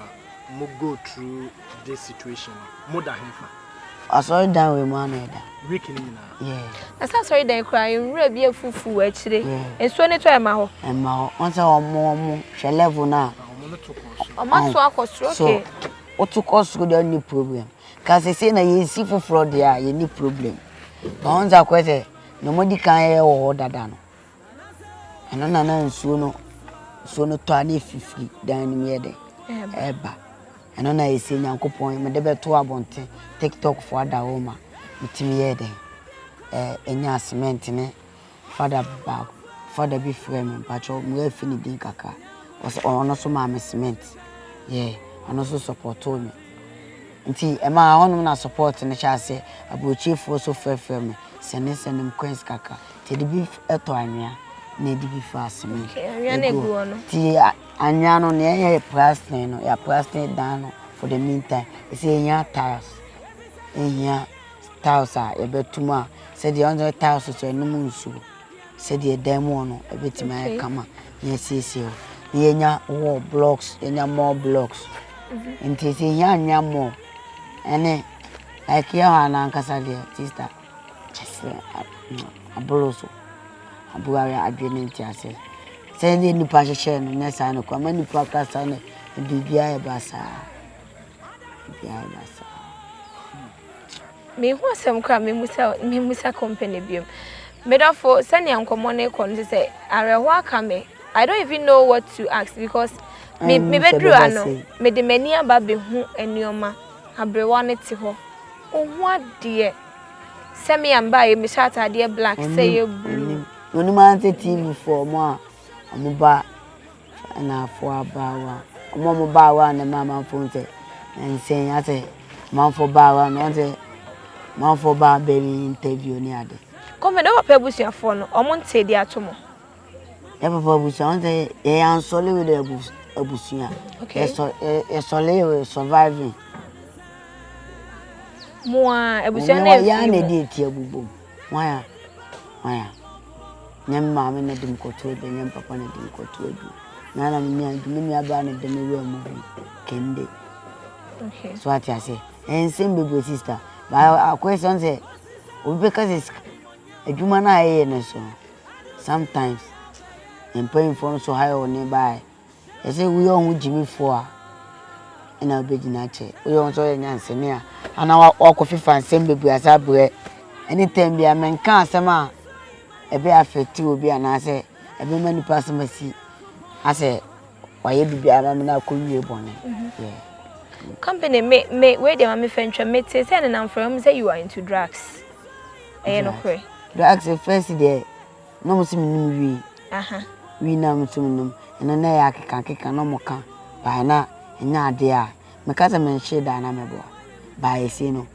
mo go through this situation no mo da he fa? Asɔredan wɔ mu ana ɛda. Week ni nyinaa. Yeah. Na sɛ asɔredan kura yɛn nwura bi afufu wɔ akyire. Yeah. Nsuo ne tɔ ɛma hɔ. Ɛma hɔ. Wɔn sɛ wɔn wɔn hwɛ level na. Ah, wɔn no to kɔ so. Wɔn ato akɔ soro okay. So woto kɔ soro deɛ ɔnni problem. Ka sɛ sɛ na yɛsi foforɔ deɛ a yɛnni problem. Ba wɔn sɛ akɔyɛ sɛ na wɔn adi kan yɛ wɔ hɔ dada no. Ɛno na na nsuo no nsuo no tɔ a na ɛfifiri dan no mu yɛ dɛ ɛreba ɛno na ɛsɛ nyankopɔn mede bɛto abɔnten tiktokfoɔ ada hɔ ma metumi yɛɛ dɛn ɛnya cement ne fada baako fada bi frɛ me mpakyɛw moafi ne din kakra ɔsɛ ɔno so maa me cement yɛ ɔno so sɔpɔtoo me nti ɛmaa hɔnom na support no hyɛ aseɛ aburokyifoɔ so frɛfrɛ me sɛne sɛne coins kakra Yɛde bi tɔ anwea na yɛde bi fa cement. Okay, anwea na egu hɔ no. Ti anwea no na yɛyɛ plastering no, yɛ plastering dan no for the meantime. Ɛsɛ yɛnya tiles. Yɛhia tiles a yɛbɛtum a sɛdeɛ ɔno sɛ tiles so ɛnom nsuo. Sɛdeɛ dan mu hɔ no ɛbɛtumi ayɛ kama na yɛasiesie hɔ. Na yɛnya wall blocks, yɛnya more blocks. Mhm. Nti sɛ yɛhia anwea more ɛne like yɛ hɔ a no ankasa deɛ sister. Kyerɛ sɛ aboro so. Aboro ayɛ adwene ntease. Sɛdeɛ nnipa hyehyɛɛ no nyɛ saa na ɛkɔ. Ama nnipa kɔ asa no, biribiara yɛ basaa. Biribiara yɛ basaa. Menhu asɛm koraa memusa memusa company biom. Medɔfo sɛnea nkɔmmɔ no kɔ no sɛ awerɛhoɔ aka me. I don't even know what to ask because me mebɛduru ano mede m'ani aba bɛhu nneɛma. Aberewa no te hɔ. Ohu adeɛ. Sɛ me a me ba yɛ me hyɛ ataadeɛ black sɛ yɛ blue. Onim ansɛ TV foɔ ɔmo a ɔmo ba Ghana foɔ abaawa ɔmo a ɔmo baawa na ɛma amanfoɔ hu sɛ nyansɛn asɛ amanfoɔ baawa no ɔsɛ amanfoɔ baa bɛ interview ne ade. Kɔmfɛ na wo papa abusuafoɔ no ɔmo ntee de ato mo. yɛbɛba abusua ɔn sɛ yɛyɛ ansɔle wei dɛ abusua okay yɛsɔle yɛ surviving mo a abusua no yɛ yɛn na ɛdi eti abubom waya waya nyɛ me maame na ɛdi mu kɔto edu nyɛ me papa na ɛdi mu kɔto edu na na me nua dwuma nua baa na ɛdi mu wura mu bi kɛnde okay so ate ase ɛnsɛm bebree sista baa akɔyɛ sɛ ɔn sɛ obi bɛka sɛ adwuma no a ɛyɛ no so no sometimes mpanyimfoɔ no nso hire wo ne baeɛ ɛsɛ woyɛ wɔn ho gyimifoɔ a ɛna wobɛgyina akyɛ woyɛ wɔn sɛ ɔyɛ nyansani a ana wakɔ fifa nsɛm bebree asa abrɛ anytime bia menka asɛm a ɛbɛ afɛte obi anaasɛ ɛbɛma nipa asɛm asi asɛ wayɛ biribi ama me na akɔ wie bɔne company me me wei deɛ ma me fɛ ntwa me te sɛ nenam frɛ mu sɛ you are into drugs ɛyɛ nokorɛ. Drugs first deɛ na ɔmo se menom wii. Aha. Wii na ɔmo se menom ɛno na ɛyɛ akeka akeka na ɔmo ka bae na ɛnyɛ adeɛ a meka sɛ menhyee da a na mɛbɔ a bae esie no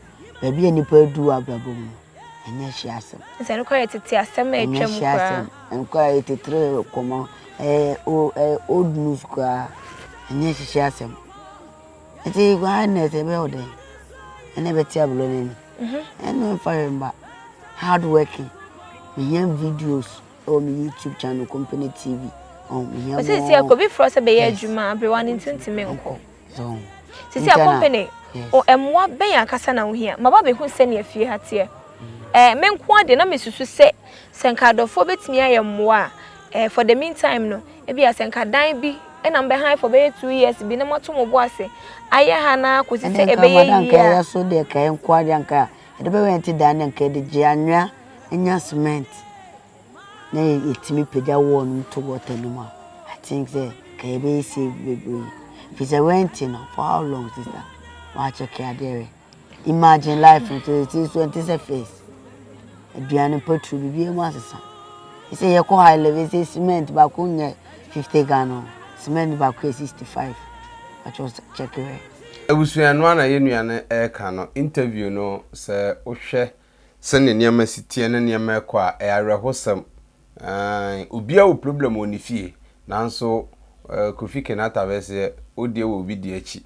baabi a nipa adu wɔ abrabɔ mu no ɛnyɛ hye asɛm. Sɛ no koraa yɛ tete asɛm a atwa mu koraa. Ɛnyɛ hye asɛm ɛno koraa ɛyɛ tetere kɔmɔ ɛyɛ ɛyɛ old news koraa ɛnyɛ hye asɛm. Ɛti guai nɛ ɛti ɛbɛ ɔdɛn ɛnɛ ɛbɛ ti abulɔ nɛ ni ɛnɛ ɛfa yɛ mba hard working mi hia videos ɛwɔ mi youtube channel company tv ɔn mi hia mo ɔsɛ sɛ ɛkɔ bi fura sɛ bɛyɛ adwuma aberewa ne nti nti mi nkɔ sisi a company o ɛmoa bɛyɛ akasa na ohia ma ba bɛ hu sɛ ni efie ha teɛ ɛɛ mi nko adeɛ na mi susu sɛ sɛ nka adɔfoɔ bɛtumi ayɛ mmoa ɛɛ for the meantime no. Ebia sɛ anka dan bi na mobɛhan for bɛyɛ two years bi na moato mo bo ase ayɛ ha no ara kɔsi sɛ ɛbɛyɛ yie a. Ɛne nka anka yɛyɛ so deɛ kae nko ara deɛ anka yɛde bɛyɛ yɛn ti dan deɛ anka yɛde gye anwea nya cement na yɛtumi pagya wall no mu to gutter no mu a I think sɛ anka yɛbɛyɛ save bebree ɛfiri sɛ rent no for how long sister? Woakyɛke adeɛ wɛ. Imagine life no te te so ɛnte sɛ face. Aduane pɔtru bibi mu asesa. Ɛsɛ yɛ kɔ high level ɛsɛ cement baako nyɛ 50 Ghana. Cement baako yɛ 65. Atwa check rɛ. Abusua noa na yɛnua no ɛka no interview no sɛ wohwɛ Sɛnea nneɛma si teɛ ne nneɛma rekɔ a, ɛyɛ awerɛhosɛm. Aane, obiara wɔ problem wɔ ne fie, nanso Kofi Kinaata bɛseɛ, wo deɛ wɔ obi deɛ akyi.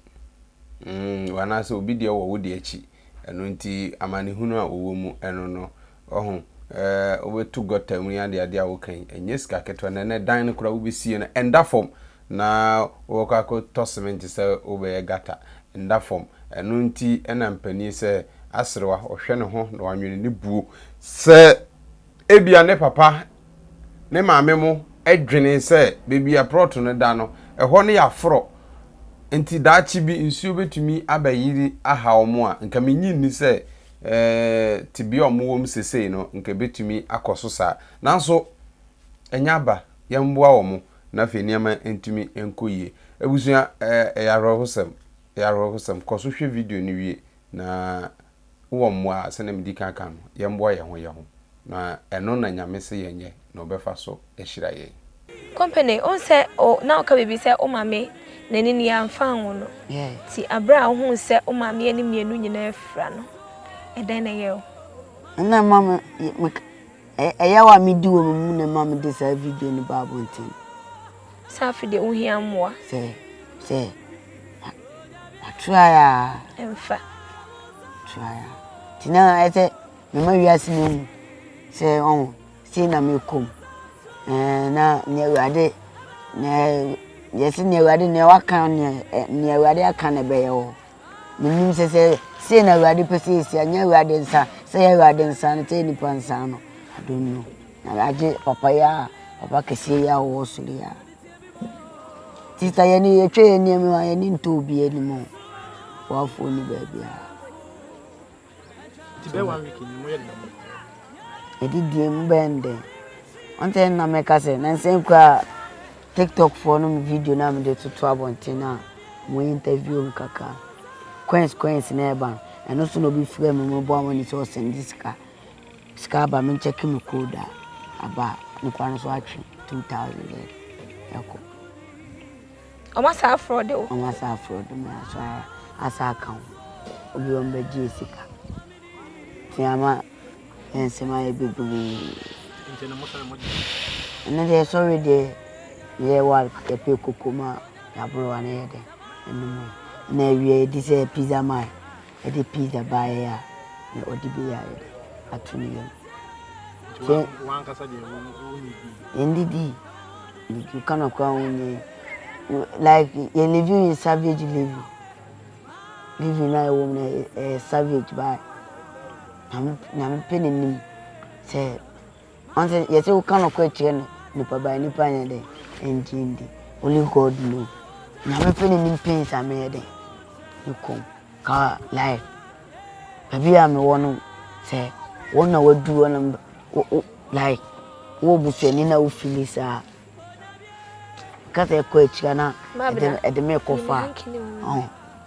Mm, anaasɛ obi deɛ wɔ wo deɛ akyi. Ɛno nti, amanehunu a wɔwɔ mu ɛno no, ɔho, eh, wobɛto gɔta mu ne adeade a woka yi, ɛnyɛ sika ketewa. Na ɛnɛ dan no koraa wobɛsie no, ɛnda fam. Na wɔkɔ akɔ tɔ sementi sɛ wobɛyɛ gata, nda fam, ɛno nti na mpanin sɛ aserewa ɔhwɛ ne ho na wanwene ne buo. Sɛ ebia ne papa ne maame mo dwenee sɛ baabi a prɔto no da no ɛhɔ no yɛ aforɔ nti daakye bi nsuo bɛtumi abɛyiri aha wɔn a, nka mennye nni sɛ tebea a wɔwɔ mu sesei no nka ɛbɛtumi akɔ so saa. Nanso ɛnyɛ aba, yɛmmoa wɔn. na afei nneɛma ntumi nkɔ yie. Abusua, ɛyɛ awerɛhosɛm, ɛyɛ awerɛhosɛm. Kɔ so hwɛ video no wie, na wowɔ mmoa a, sɛdeɛ medi kan ka no, yɛmmoa yɛn ho yɛn ho, na ɛno na Nyame se yɛnyɛ na Ɔbɛfa so ahyira yɛn. Company wohu sɛ o na woka biribi sɛ wo maame n'ani no yɛamfa anwo no nti aberɛ a wohuu sɛ wo maame ani mmienu nyinaa afira no ɛdɛn na ɛyɛɛ wo? Ɛna ɛma me me. Ɛyaw a midi wɔ me mu na ɛma mede saa video no baa abɔnten. Sɛ afe deɛ wohia mmoa. Sɛ sɛ matrae a. Ɛmfa. Trae a. Nti na ɛsɛ mema wiase no mu sɛ ɔho sei na mekɔ mu. Na nea Awurade na yɛsi nea Awurade nea waka nea Awurade aka na ɛbɛyɛ wɔ. Menim sɛ sɛ sei na Awurade pɛ sɛ ɛsi a, nyɛ Awurade nsa, sɛ ɛyɛ Awurade nsa no, sɛ ɛyɛ nnipa nsa no, I don't know. Na agye papa yi a, papa kɛseɛ yi a ɔwɔ soro yi a. Sista yɛne yɛtwa yɛn nneɛma a yɛne ntɔ obi anim o. Boafoɔ ni baabiara. Adidie mu bɛyɛ no dɛn ɔno sɛ na mɛka sɛ nansɛ koraa tiktok foɔ no mu video no a mede toto abɔnten no a mo interview m kakra coins coins na ɛba no ɛno so na obi frɛ me meboa mo ne sɛ ɔsɛnde sika sika aba me nkyɛke me code a aba ne kwa no so atwe 2000 ɛkɔ Ɔmo asan afrɔde wo. Ɔmo asan afrɔde me aso asan aka ho. Obi ɔmo bɛ gyee sika. Nti ama yɛn nsɛm ayɛ bebree. Nti no mo sɔre mo gye. Ɛnɛ deɛ sɔre deɛ yɛ wa yɛpɛ koko ma yaboro wa ne yɛ dɛ ɛnum yɛ. Ɛna awia yɛdi sɛ pizza man. Ɛde pizza baeɛ a, na ɔde bi ayɛ dɛ ato ne yam. Wankasa deɛ wonnidii? Ndidii. Medidi ka no koraa wonyɛ like yɛ living in savage living living na ɛwɔ mu na ɛyɛ savage baa nyame pɛ n'anim sɛ Ɔnse yɛse wo ka nɔkorɛ kyerɛ no nipa but nipa nyɛ dɛn ɛngye ndi only God know Nyame pɛ ne nim pains a meyɛ dɛn me kɔm ka life baabi a mewɔ no sɛ wɔn na wadu hɔ na like wowɔ busuani na wo fili saa ka sɛ ɛkɔ akyira na ɛde me kɔ fa ɔn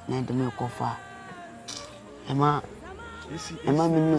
na ɛde me kɔ fa ɛma ɛma me nu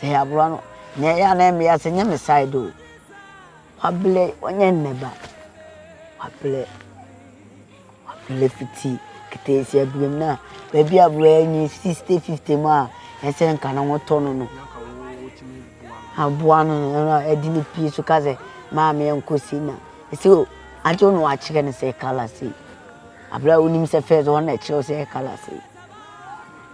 Sɛ yɛ abroa no nea ɛyɛ a na ɛmmɛ ase nyɛ me side o wabrɛ ɔnyɛ nnɛ ba wabrɛ wabrɛ fiti keteesi abrɛ mu na baabi abroa anyi sixty fifty mu a ɛsɛ nka ne ho tɔ no no aboa no ɛna ɛde ne pie so ka sɛ maame ɛnkɔ si na ɛsɛ o agye no wakyerɛ no sɛ kala sei abrɛ a wonim sɛ fɛs ɔna ɛkyerɛ sɛ kala sei.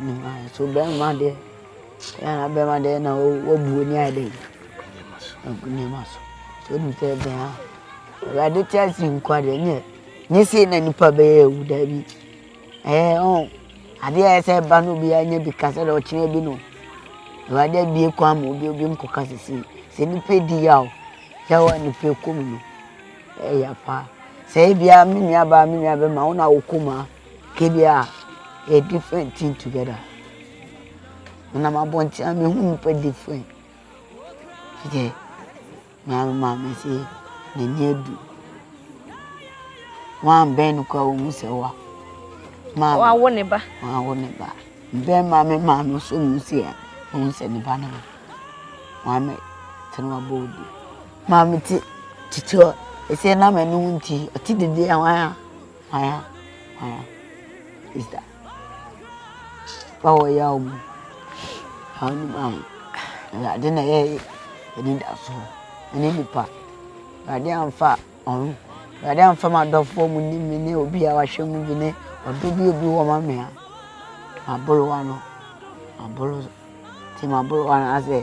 Nso bɛrima deɛ ɛna bɛrima deɛ na wabu ani ayɛ dɛ agu nneɛma so so onim sɛ ɛbɛn a awurade te ase nkwa deɛ nyɛ nyɛ sei na nipa bɛyɛ awu daabi ɛɛ ɔn adeɛ a ɛsɛ ɛba no obiara nyɛ bi kasa dɛ ɔkyerɛ bi no awurade abie kwan ma obi obi nkɔ kasa si sɛ nipa di yaw sɛ wɔ nipa kɔm no ɛyɛ paa sɛ ebia me nua baa me nua bɛma wo na wokɔ mu a. Kedu a yɛ different thing together menam abɔnten a mehu nnipa different hwɛ nea me maame se n'ani adu wanbɛn no koraa ohu sɛ wa maame wawo ne ba wawo ne ba mbɛn maame maame so mu se a ohu sɛ ne ba ne ho maame tena wabɔ odi maame te titi hɔ ɛsɛ na m'ani ho nti ɔte dede a wɔn a Hwaya hwaya sista papa wɔ yaw mu haw no mu a awurade na ɛyɛ anidaso ɛne nipa awurade anfa ɔho awurade anfa m'adɔfoɔ mu ne me ne obi a wahwɛ mu bi ne ɔdɔ bi a obi wɔ ma me a mabolowa no mabolowa. Ntsi mabor woara dɛ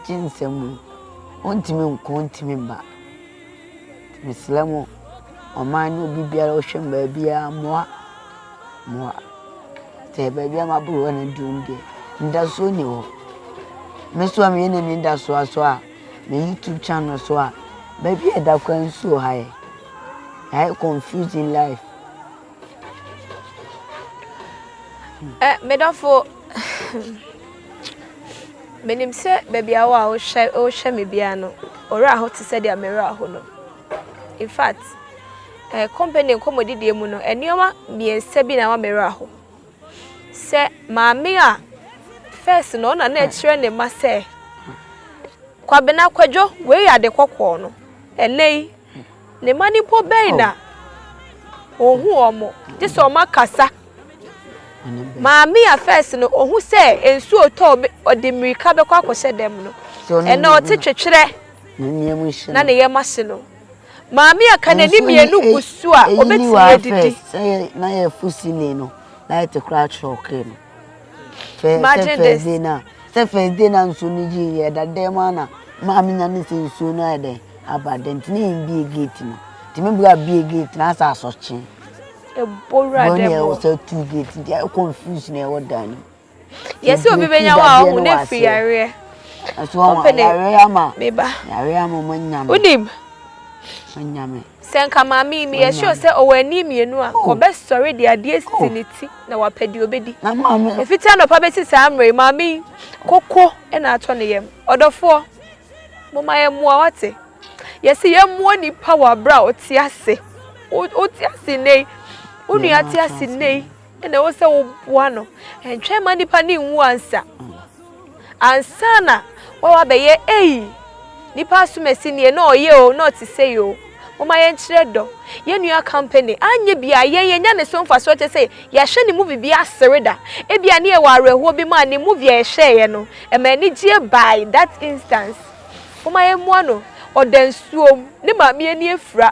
gye nsɛm mu, onntumi nnkɔ onntumi mba. Ntsi meserɛ mo, ɔman no obi biara ɔhwɛ me beebiara mboa, mboa. Ntsi beebi a mabor woana dur no deɛ ndaso nnyi hɔ. Me so a meyɛ nani dasoa so a, me YouTube channel so a, beebi a yɛda koraa nsu wɔ ha ɛ. Yɛayɛ confused in life. Eh, me dɔfo, menim sɛ baabi a wo a wohwɛ wohwɛ me biara no, ɔwerɛ aho te sɛ deɛ me werɛ aho no. In fact, eh, company nkɔmmɔdidie mu no, nneɛma mmiɛnsa bi na ama me werɛ aho. Sɛ maame a, first no, ɔna na ɛkyerɛ ne mma sɛ, kwabena kwadwo, wei yɛ ade kɔkɔɔ no, ɛnɛ yi, Ne mma no mpo bɛn oh. na ɔhu wɔn gye sɛ wɔn akasa maame a fɛs no ɔhu sɛ nsuo tɔ ɔde mmirika bɛkɔ akɔhyɛ dɛm no ɛna ɔte twetwerɛ na ne yɛm ahye no maame a ka n'ani mmienu gu so a ɔbɛtumi adidi na yɛ fusini no na yɛte koraa kyerɛ ɔkee no Sɛ sɛ first day na sɛ first day na nsuo no gye yɛ ɛda dɛm mu ana maame nya ne sɛ nsuo no ayɛ dɛn aba dɛm nti ne yɛn bie gate no nti me bra bie gate na asɛ asɔkye ebowura dɛm wɔ ɛwɔ sɛ two gate nti ayɛ confuse na ɛwɔ dan no yɛsi obi bɛ nya hɔ a ɔmo na efiri yareɛ ɛso ɔmo yareɛ ama yareɛ ama ɔmo nya me ɔmo nya me. Sɛ anka maame yi meyɛ sure sɛ ɔwɔ ani mmienu a, ɔbɛsɔre de adeɛ asi ne ti na wapɛ deɛ ɔbɛdi. Ɛfiti anɔpa bɛsi saa mmerɛ yi, maame yi, koko na atɔ ne yam. Ɔdɔfoɔ, momma yɛmmoa, wate? Yɛse yɛmmoa nipa wɔ aberɛ a ɔte ase. Wote ase nnɛ yi, wo nua te ase nnɛ yi. ɛna ɛwɔ sɛ woboa no ɛntwɛn ma nipa ne nwu ansa ansa na wɔwɔ abɛyɛ eyi nipa asomasi nie na ɔyɛ o na ɔte sɛ yi o moma yɛnkyerɛ dɔ yɛn nua company anyɛ bi a yɛn yɛnya ne so mfasoɔ kyɛ sɛ yɛahwɛ ne movie bi asere da ebi a ne yɛwɔ awerɛhoɔ bi ma ne movie a yɛhwɛeɛ no ɛma anigyeɛ by that instance moma yɛmmoa no ɔda nsuom ne maame ani afira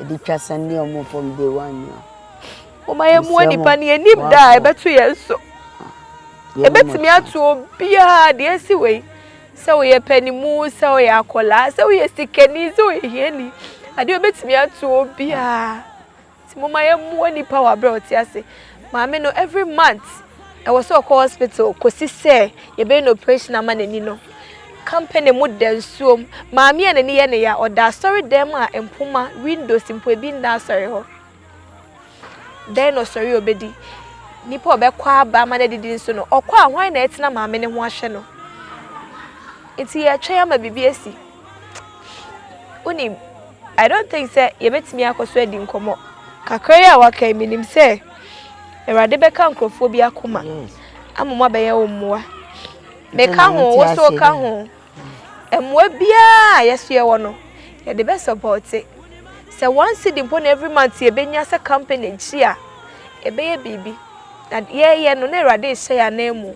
Ɛde twa sɛ ne ɔmo fam day one ni a. Moma yɛ mua nipa ne yɛnim da a ɛbɛto yɛn so. Ɛbɛtumi ah, ato obiara deɛ ɛsi wei. Sɛ woyɛ panimu, sɛ woyɛ akwadaa, sɛ woyɛ sikani, sɛ woyɛ hiani. Adeɛ ɛbɛtumi ato obiara. Nti moma yɛ mua nipa wɔ aberɛ a ɔte ase. Maame no every month ɛwɔ sɛ ɔkɔ hospital kɔsi sɛ yɛbɛyɛ no operation ama n'ani no. Company mu da nsuom. Maame a n'ani yɛ ne ya ɔda asɔre dan mu a mpoma, windows mpo ebi nna asɔre hɔ. Dɛn na ɔsɔre a ɔbɛdi? Nipa a ɔbɛkɔ aba ama no adidi nso no ɔkɔ a hwan na ɛtena maame no ho ahwɛ no? Nti yɛtwɛn ama biribi asi. Wonim, I don't think sɛ yɛbɛtumi akɔ so adi nkɔmmɔ. Kakra yi a waka yi, menim sɛ Awurade bɛka nkurɔfoɔ bi akoma ama mo abɛyɛ wo mmoa. Meka ho, wo so ka ho. Mmoa biara a yɛso yɛwɔ no, yɛde bɛ sɔpɔɔte. Sɛ one cedi mpo na every month yɛbɛnya sɛ company akyi a, ɛbɛyɛ biribi. Na yɛyɛ no na Awurade rehyɛ yɛn anan mu.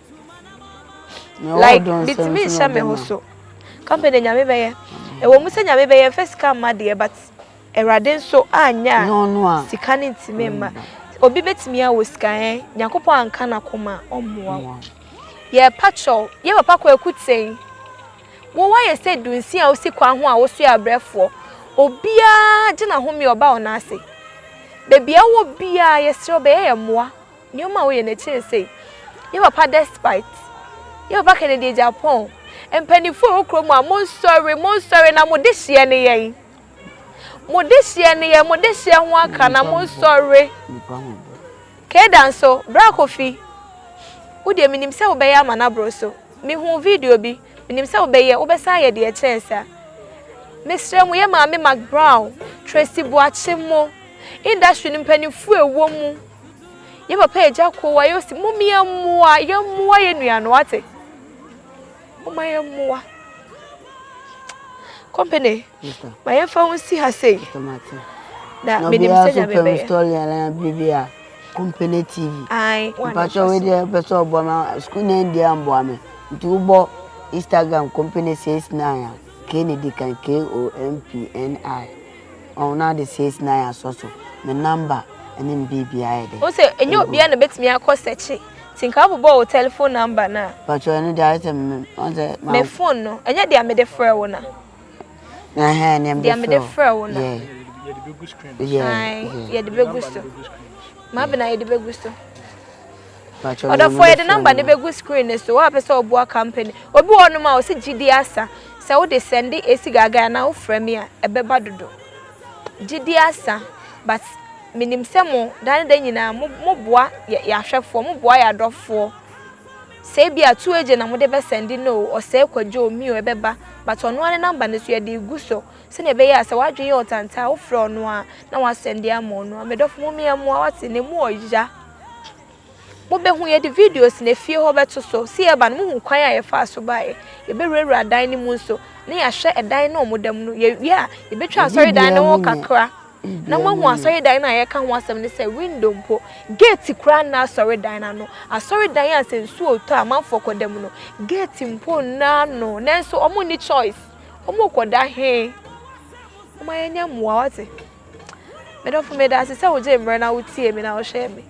Like, bitumi nhyɛ me ho so. Company de nyame bɛyɛ. Ɛwɔ mu sɛ nyame bɛyɛ mfa sika mma deɛ but Awurade nso anyɛ a sika no ntumi mma. Obi bɛtumi awɔ sika ɛ eh, Nyankopɔn anka n'akoma ɔmmoa wo. Yɛ patrol, yɛ papa kwaku ten. Wo wayɛ sɛ dunsi a wosi kwan ho a woso yɛ abrɛfoɔ. Obiara gye n'ahome ɔba ɔna ase. Baabi a wɔ biara yɛsrɛ bɛyɛ yɛ mmoa. Nneɛma a woyɛ no akyi ne sei. Yɛ papa despite. Yɛ papa Kennedy Agyapong. Mpanyinfoɔ wɔ kurom a mo nsɔre mo nsɔre na mo de hyeɛ ne yɛn. Mo de hyeɛ ne yɛn mo de hyeɛ ho aka na mo nsɔre. Keda nso bra kofi. Wo deɛ menim sɛ wobɛyɛ ama no aboro so. Mehu video bi menim sɛ wobɛyɛ wobɛsan ayɛ deɛ ɛkyɛn saa. Mesrɛ mo yɛ maame Mac Brown, Tracy Boakye mo industry no mpanyinfoɔ ɛwɔ mu. Yɛ papa agya ko wa yɛ osi mo mi ɛmoa yɛ mmoa yɛ nua no ate. Mo ma yɛ mmoa. Company. Ma yɛ fa ho si ha sei. Na me nim sɛ nya me bɛyɛ. Story ala bibi a company TV. Ai. Mpacho we dey person obo ma school na ndi ambo ame. Nti wo bo Instagram company 69 a K ne di kan K O M P N I. Ɔn na ade sees na ya sɔ so me number ne me biribiaa yɛ dɛ. Wo sɛ ɛnyɛ obiaa na bɛtumi akɔ sɛkye nti nka wo bobɔɔ wo telephone number no a. Mpakyɛw ɛno deɛ ayɛ sɛ me ɔn sɛ ma. Me phone no ɛnyɛ dea mede frɛ wo na. Ɛhɛɛn nea mede frɛ wo. Dea mede frɛ wo na. Yeah. Yɛde bɛgu screen no so. Yeah. Ae yɛde bɛgu so. Maame na yɛde bɛgu so. Ɔdɔfoɔ yɛde number no bɛgu screen no so woapɛ sɛ ɔboa company obi wɔ nom a ɔsi gyidie asa sɛ wode sɛnde esi gaagaa anaa wofrɛ me a ɛbɛba dodo gyidie asa but menim sɛ mo da ne da nyinaa mo mo boa yɛ yɛ ahwɛfoɔ mo boa yɛ adɔfoɔ sɛ ebi a two agent na mo de bɛ sɛnde no ɔsɛe kwadwo omi o ɛbɛba but ɔno ara ne number no so yɛde gu so sɛnea ɛbɛyɛ a sɛ wadwene yɛ ɔtantaa wofrɛ ɔno a na wasɛnde ama ɔno a medɔfo mo mmea mmoa wate ne mu ɔya Mobehu, yɛde videos na efie hɔ bɛto so. Sɛ yɛreba no, mohu kwan a yɛfaa so baeɛ. Yɛbɛwurawura dan no mu nso, na yɛahwɛ ɛdan no a wɔda mu no. Yɛawie a, yɛbɛtwa asɔredan no ho kakra, na moahu asɔredan no a yɛreka ho asɛm ne sɛ, window mpo, gate koraa nna asɔredan no ano. Asɔredan a sɛ nsuo retɔ a amanfoɔ kɔda mu no, gate mpo nna ano. Nanso wɔnni choice. Wɔrekɔda he? Momma yɛnyɛ mmoa, woate? Medɔfo medase sɛ wogyee mmerɛ na wotiee me na wohwɛɛ me.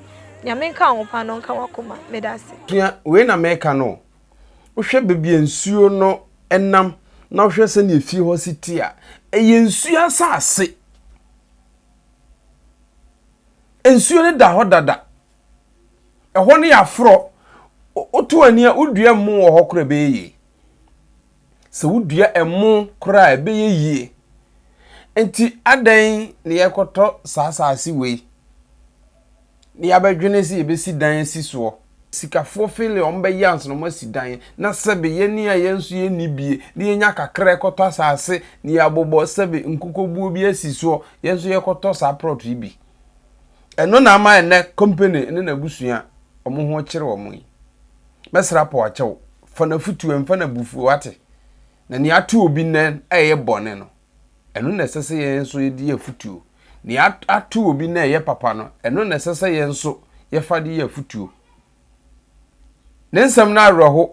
Nyame nka wo paa na ɔnka w'akoma. Medase. Sua wei na meka no o. Wohwɛ baabi a nsuo no nam na wohwɛ sɛdeɛ fie hɔ si te a, ɛyɛ nsuo asase. Nsuo no da hɔ dada. Ɛhɔ no yɛ aforɔ. Woto ani a, wodua mmo wɔ hɔ koraa a ɛbɛyɛ yie. Sɛ wodua ɛmo koraa a, ɛbɛyɛ yie. Enti adɛn na yɛrekɔtɔ saa asase wei na yɛabɛdwene sɛ yɛbɛsi dan asi soɔ? Sikafoɔ fele wɔn bɛyɛ ansa na wɔasi dan, na sɛbe yɛn a yɛn nso yɛnni bie na yɛnya kakra a yɛkɔtɔ asase na yɛabobɔ sɛbe nkukuobuo bi asi soɔ, yɛn nso yɛkɔtɔ saa prɔt yi bi. Ɛno na ama ɛnnɛ company ne n'abusua wɔn ho kyere wɔn yi. Mɛsra po akyɛ wo. Fa n'afotu ɛmfa n'abufuo, wate? Na nea ato obi nnɛ a ɛyɛ bɔne no, ɛno na ɛsɛ sɛ yɛn nso yɛde yɛ afotuo. Nea ato obi nnɛ a ɛyɛ papa no, ɛno na ɛsɛ sɛ yɛn nso yɛfa de yɛ afotuo. Ne nsɛm no awerɛho.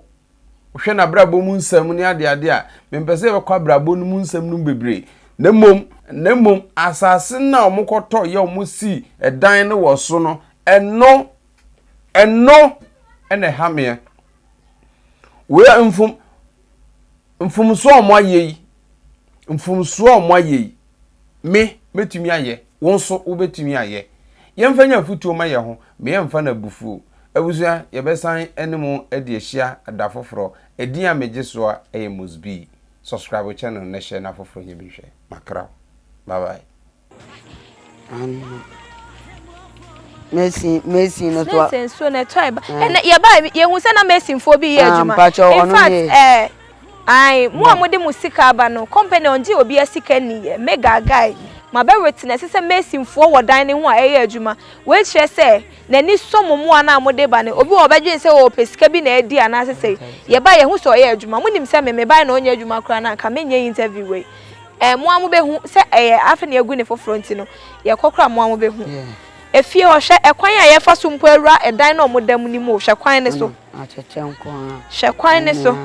Wohwɛ n'abrabɔ mu nsɛm ne adeade a, mempɛ sɛ yɛbɛkɔ abrabɔ no mu nsɛm no mu bebree. Na mmom, na mmom, asase no a wɔkɔtɔ yɛ wɔsii dan no wɔ so no, ɛno Ɛno na ɛha meɛ. Wei a mfom mfomsoɔ a wɔayɛ yi mfomsoɔ a wɔayɛ yi me mɛtumi ayɛ wo nso wobɛtumi ayɛ yɛmfa nya afotuo ma yɛ ho meyɛmfa no abufuo abusua yɛbɛsan ne mo adi ahyia da foforɔ ɛdin a megye soɔ ɛyɛ mosbi subscribe channel na hyɛ na foforɔ nyɛ bi hwɛ makra bye bye Mason Mason no to a. Mason so na ɛtɔ ɛba ɛna yɛ ba yɛ hu sɛ na Mason foɔ bi yɛ adwuma. Mpatsɔ ɔno yɛ. In fact ɛɛ ayi mu a mo de mo sika aba no company ɔngye obi asika ni yɛ mega guy ma bɛ witness sɛ Mason foɔ wɔ dan ne ho a ɛyɛ adwuma wei kyerɛ sɛ n'ani sɔ mo mu a na mo de ba no obi wɔ ɔbɛdwen sɛ ɔpɛ sika bi na ɛdi anaasɛ sɛ yɛ ba yɛ hu sɛ ɔyɛ adwuma mo nim sɛ me me ba na ɔnyɛ adwuma koraa na nka menyɛ interview wei. Ɛɛ mo ara mobɛhu sɛ ɛyɛ afe na yɛagu ne foforɔ nti no, yɛkɔ koraa a mo ara mobɛhu. Efie hɔ, hwɛ ɛkwan a yɛfa so mpo awura ɛdan no a wɔda mu no mu o, hwɛ kwan no so. Hwɛ kwan no so.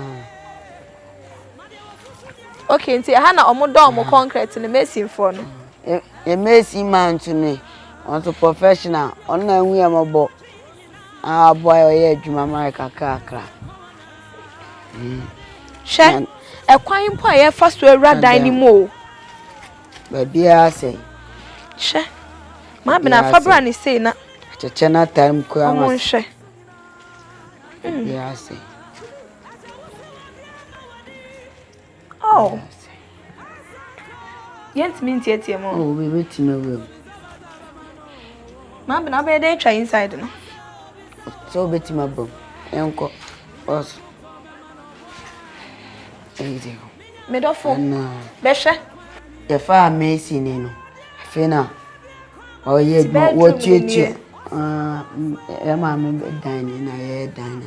Okay, nti ɛha na wɔdɔ wɔn kɔnkrɛt no, masonfoɔ no. Yɛ mason man nso no, ɔno nso professional, ɔno na ahu yɛ mmɔbɔ. Aboa ɔyɛ adwuma ma yɛ kakrakra. Hwɛ ɛkwan mpo a yɛfa so awura dan no mu o. Baabiara sɛ. Hwɛ maa bena afa bra ne sei na. Kyekyɛ no ataa mu koraa ma. Ɔmo nhwɛ. Baabiara sɛ. Oh! Yɛntumi nteatea mu. Oh, obi betumi awura mu. Mabena, wobɛyɛ dɛn atwa inside no? Sɛ wobetumi aba mu, yɛnkɔ. Ɔso. Medɔfo, bɛhwɛ. Yɛfa a Mercy ni no, afei na ɔyɛ adwuma, wɔtuatua. Ah, yɛ maame bɛ dan ni na yɛyɛ dan na.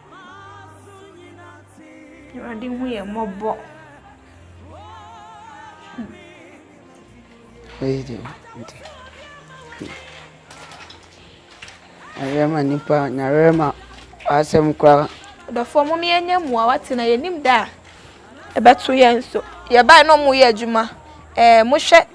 Awurade hu yɛn mmɔbɔ. Wei de nti. Ayɛma nipa nyarɛma asɛm koraa. Dɔfoɔ mo yɛnyɛ mmoa wate na yɛnim da a ɛbɛto yɛn so. Yɛbae na ɔmo yɛ adwuma. Ɛɛ mohwɛ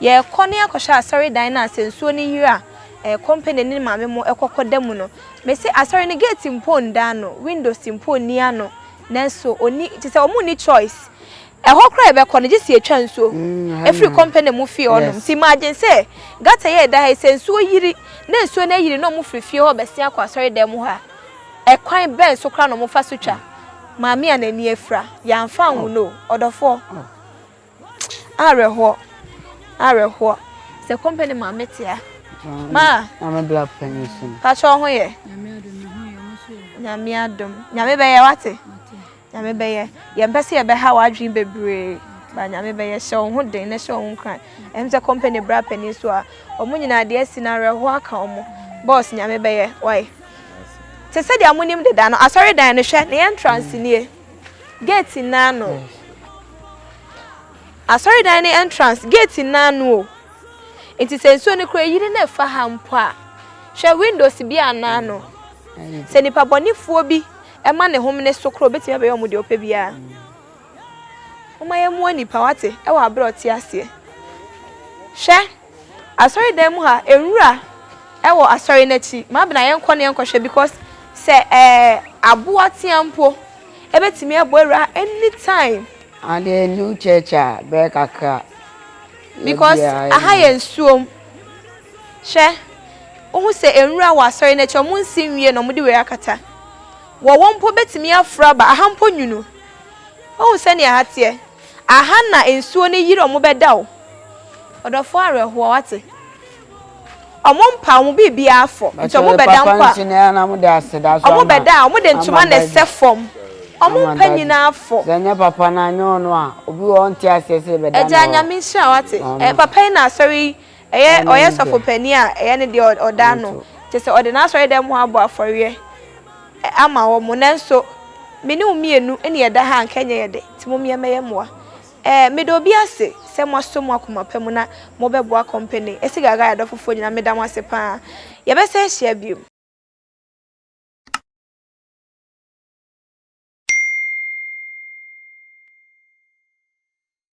Yɛrekɔ ne akɔhwɛ asɔredan no a sɛ nsuo no yiri a eh, kɔmpani ne maame mo kɔkɔ da mu no. Mese asɔre no gate mpo nda ano, windows mpo nni ano. Nanso ɔni te sɛ wɔn nni choice. Ɛhɔ koraa yɛbɛkɔ no gye sɛ yɛtwa nsuo ɛfiri kɔmpani mu fie hɔnom. Nti m'adwene sɛ gata yɛ ɛda ha yi sɛ nsuo yiri na nsuo no ayiri na wɔn firi fie hɔ bɛsen akɔ asɔredan mu hɔ a, ɛkwan bɛn so koraa na wɔfa so twa? Maame a n'ani afira, yɛamfa anwono o, ɔdɔfoɔ. Awerɛhoɔ, awerɛhoɔ. Sɛ company ma me tia. Ma. Nyame bla panyin so. Pakyɛ ɔho yɛ. Nyame adom. Nyame bɛyɛ wate. Nyame bɛyɛ. Yɛn pɛ sɛ yɛbɛha w'adwene bebree. Ba nyame bɛyɛ hyɛ wo ho den na hyɛ wo ho nkran. Ɛm sɛ company bra panyin so a. Ɔmo nyinaa deɛ asi no awerɛhoɔ aka ɔmo. Boss nyame bɛyɛ wae. Te sɛ deɛ monim deda no asɔredan no hwɛ ne entrance nie. Gate no ano. Asɔredan no entrance gate no ano o. Nti sɛ nsuo no kora yiri na ɛfa ha mpo a, hwɛ windows bi anaa no. Sɛ nipa bɔnefoɔ bi ɛma ne hom ne so koro obetumi abɛyɛ wɔn deɛ ɔpɛ biara. Wɔn ayɛ mua nipa wate ɛwɔ abere ɔte aseɛ. Hwɛ. Asɔre dan mu ha nwura wɔ asɔre no akyi mabena yɛnkɔ na yɛnkɔhwɛ because sɛ ɛɛ aboa tea mpo ɛbɛtumi abɔ awura ha any time. Adeɛ new church a bɛyɛ kakra. Because aha yɛ nsuom hwɛ wohu sɛ nwura wɔ asɔre no akyi ɔmo nsi nwie na ɔmo de wei akata wɔ wɔ mpo bɛtumi aforo aba aha mpo nwunu wohu sɛnea aha teɛ aha na nsuo no yiri ɔmo bɛda o. Ɔdɔfoɔ awerɛhoɔ wate. Ɔmo mpa ɔmo biribiara fɔ nti ɔmo bɛda mpo a ɔmo bɛda a ɔmo de ntoma na ɛsɛ fɔm ɔmo mpa nyinaa fɔ. Agya Nyame nhyira wo wate ɛyɛ papa yi na asɔre yi ɛyɛ ɔyɛ sɔfo panin a ɛyɛ ne deɛ ɔda ano kyesɛ ɔde n'asɔre dɛm hɔ abɔ afɔreɛ ama wɔn nanso me ne wo mmienu na yɛda ha a nka ɛnyɛ yɛdɛ nti momeɛ mɛyɛ moa Eh, meda obi ase sɛ moasɔ mu akoma pa mu na mobɛboa kɔmpani Esi Gaga adɔfofoɔ nyinaa, meda mo ase paa. Yɛbɛsan ahyia biom.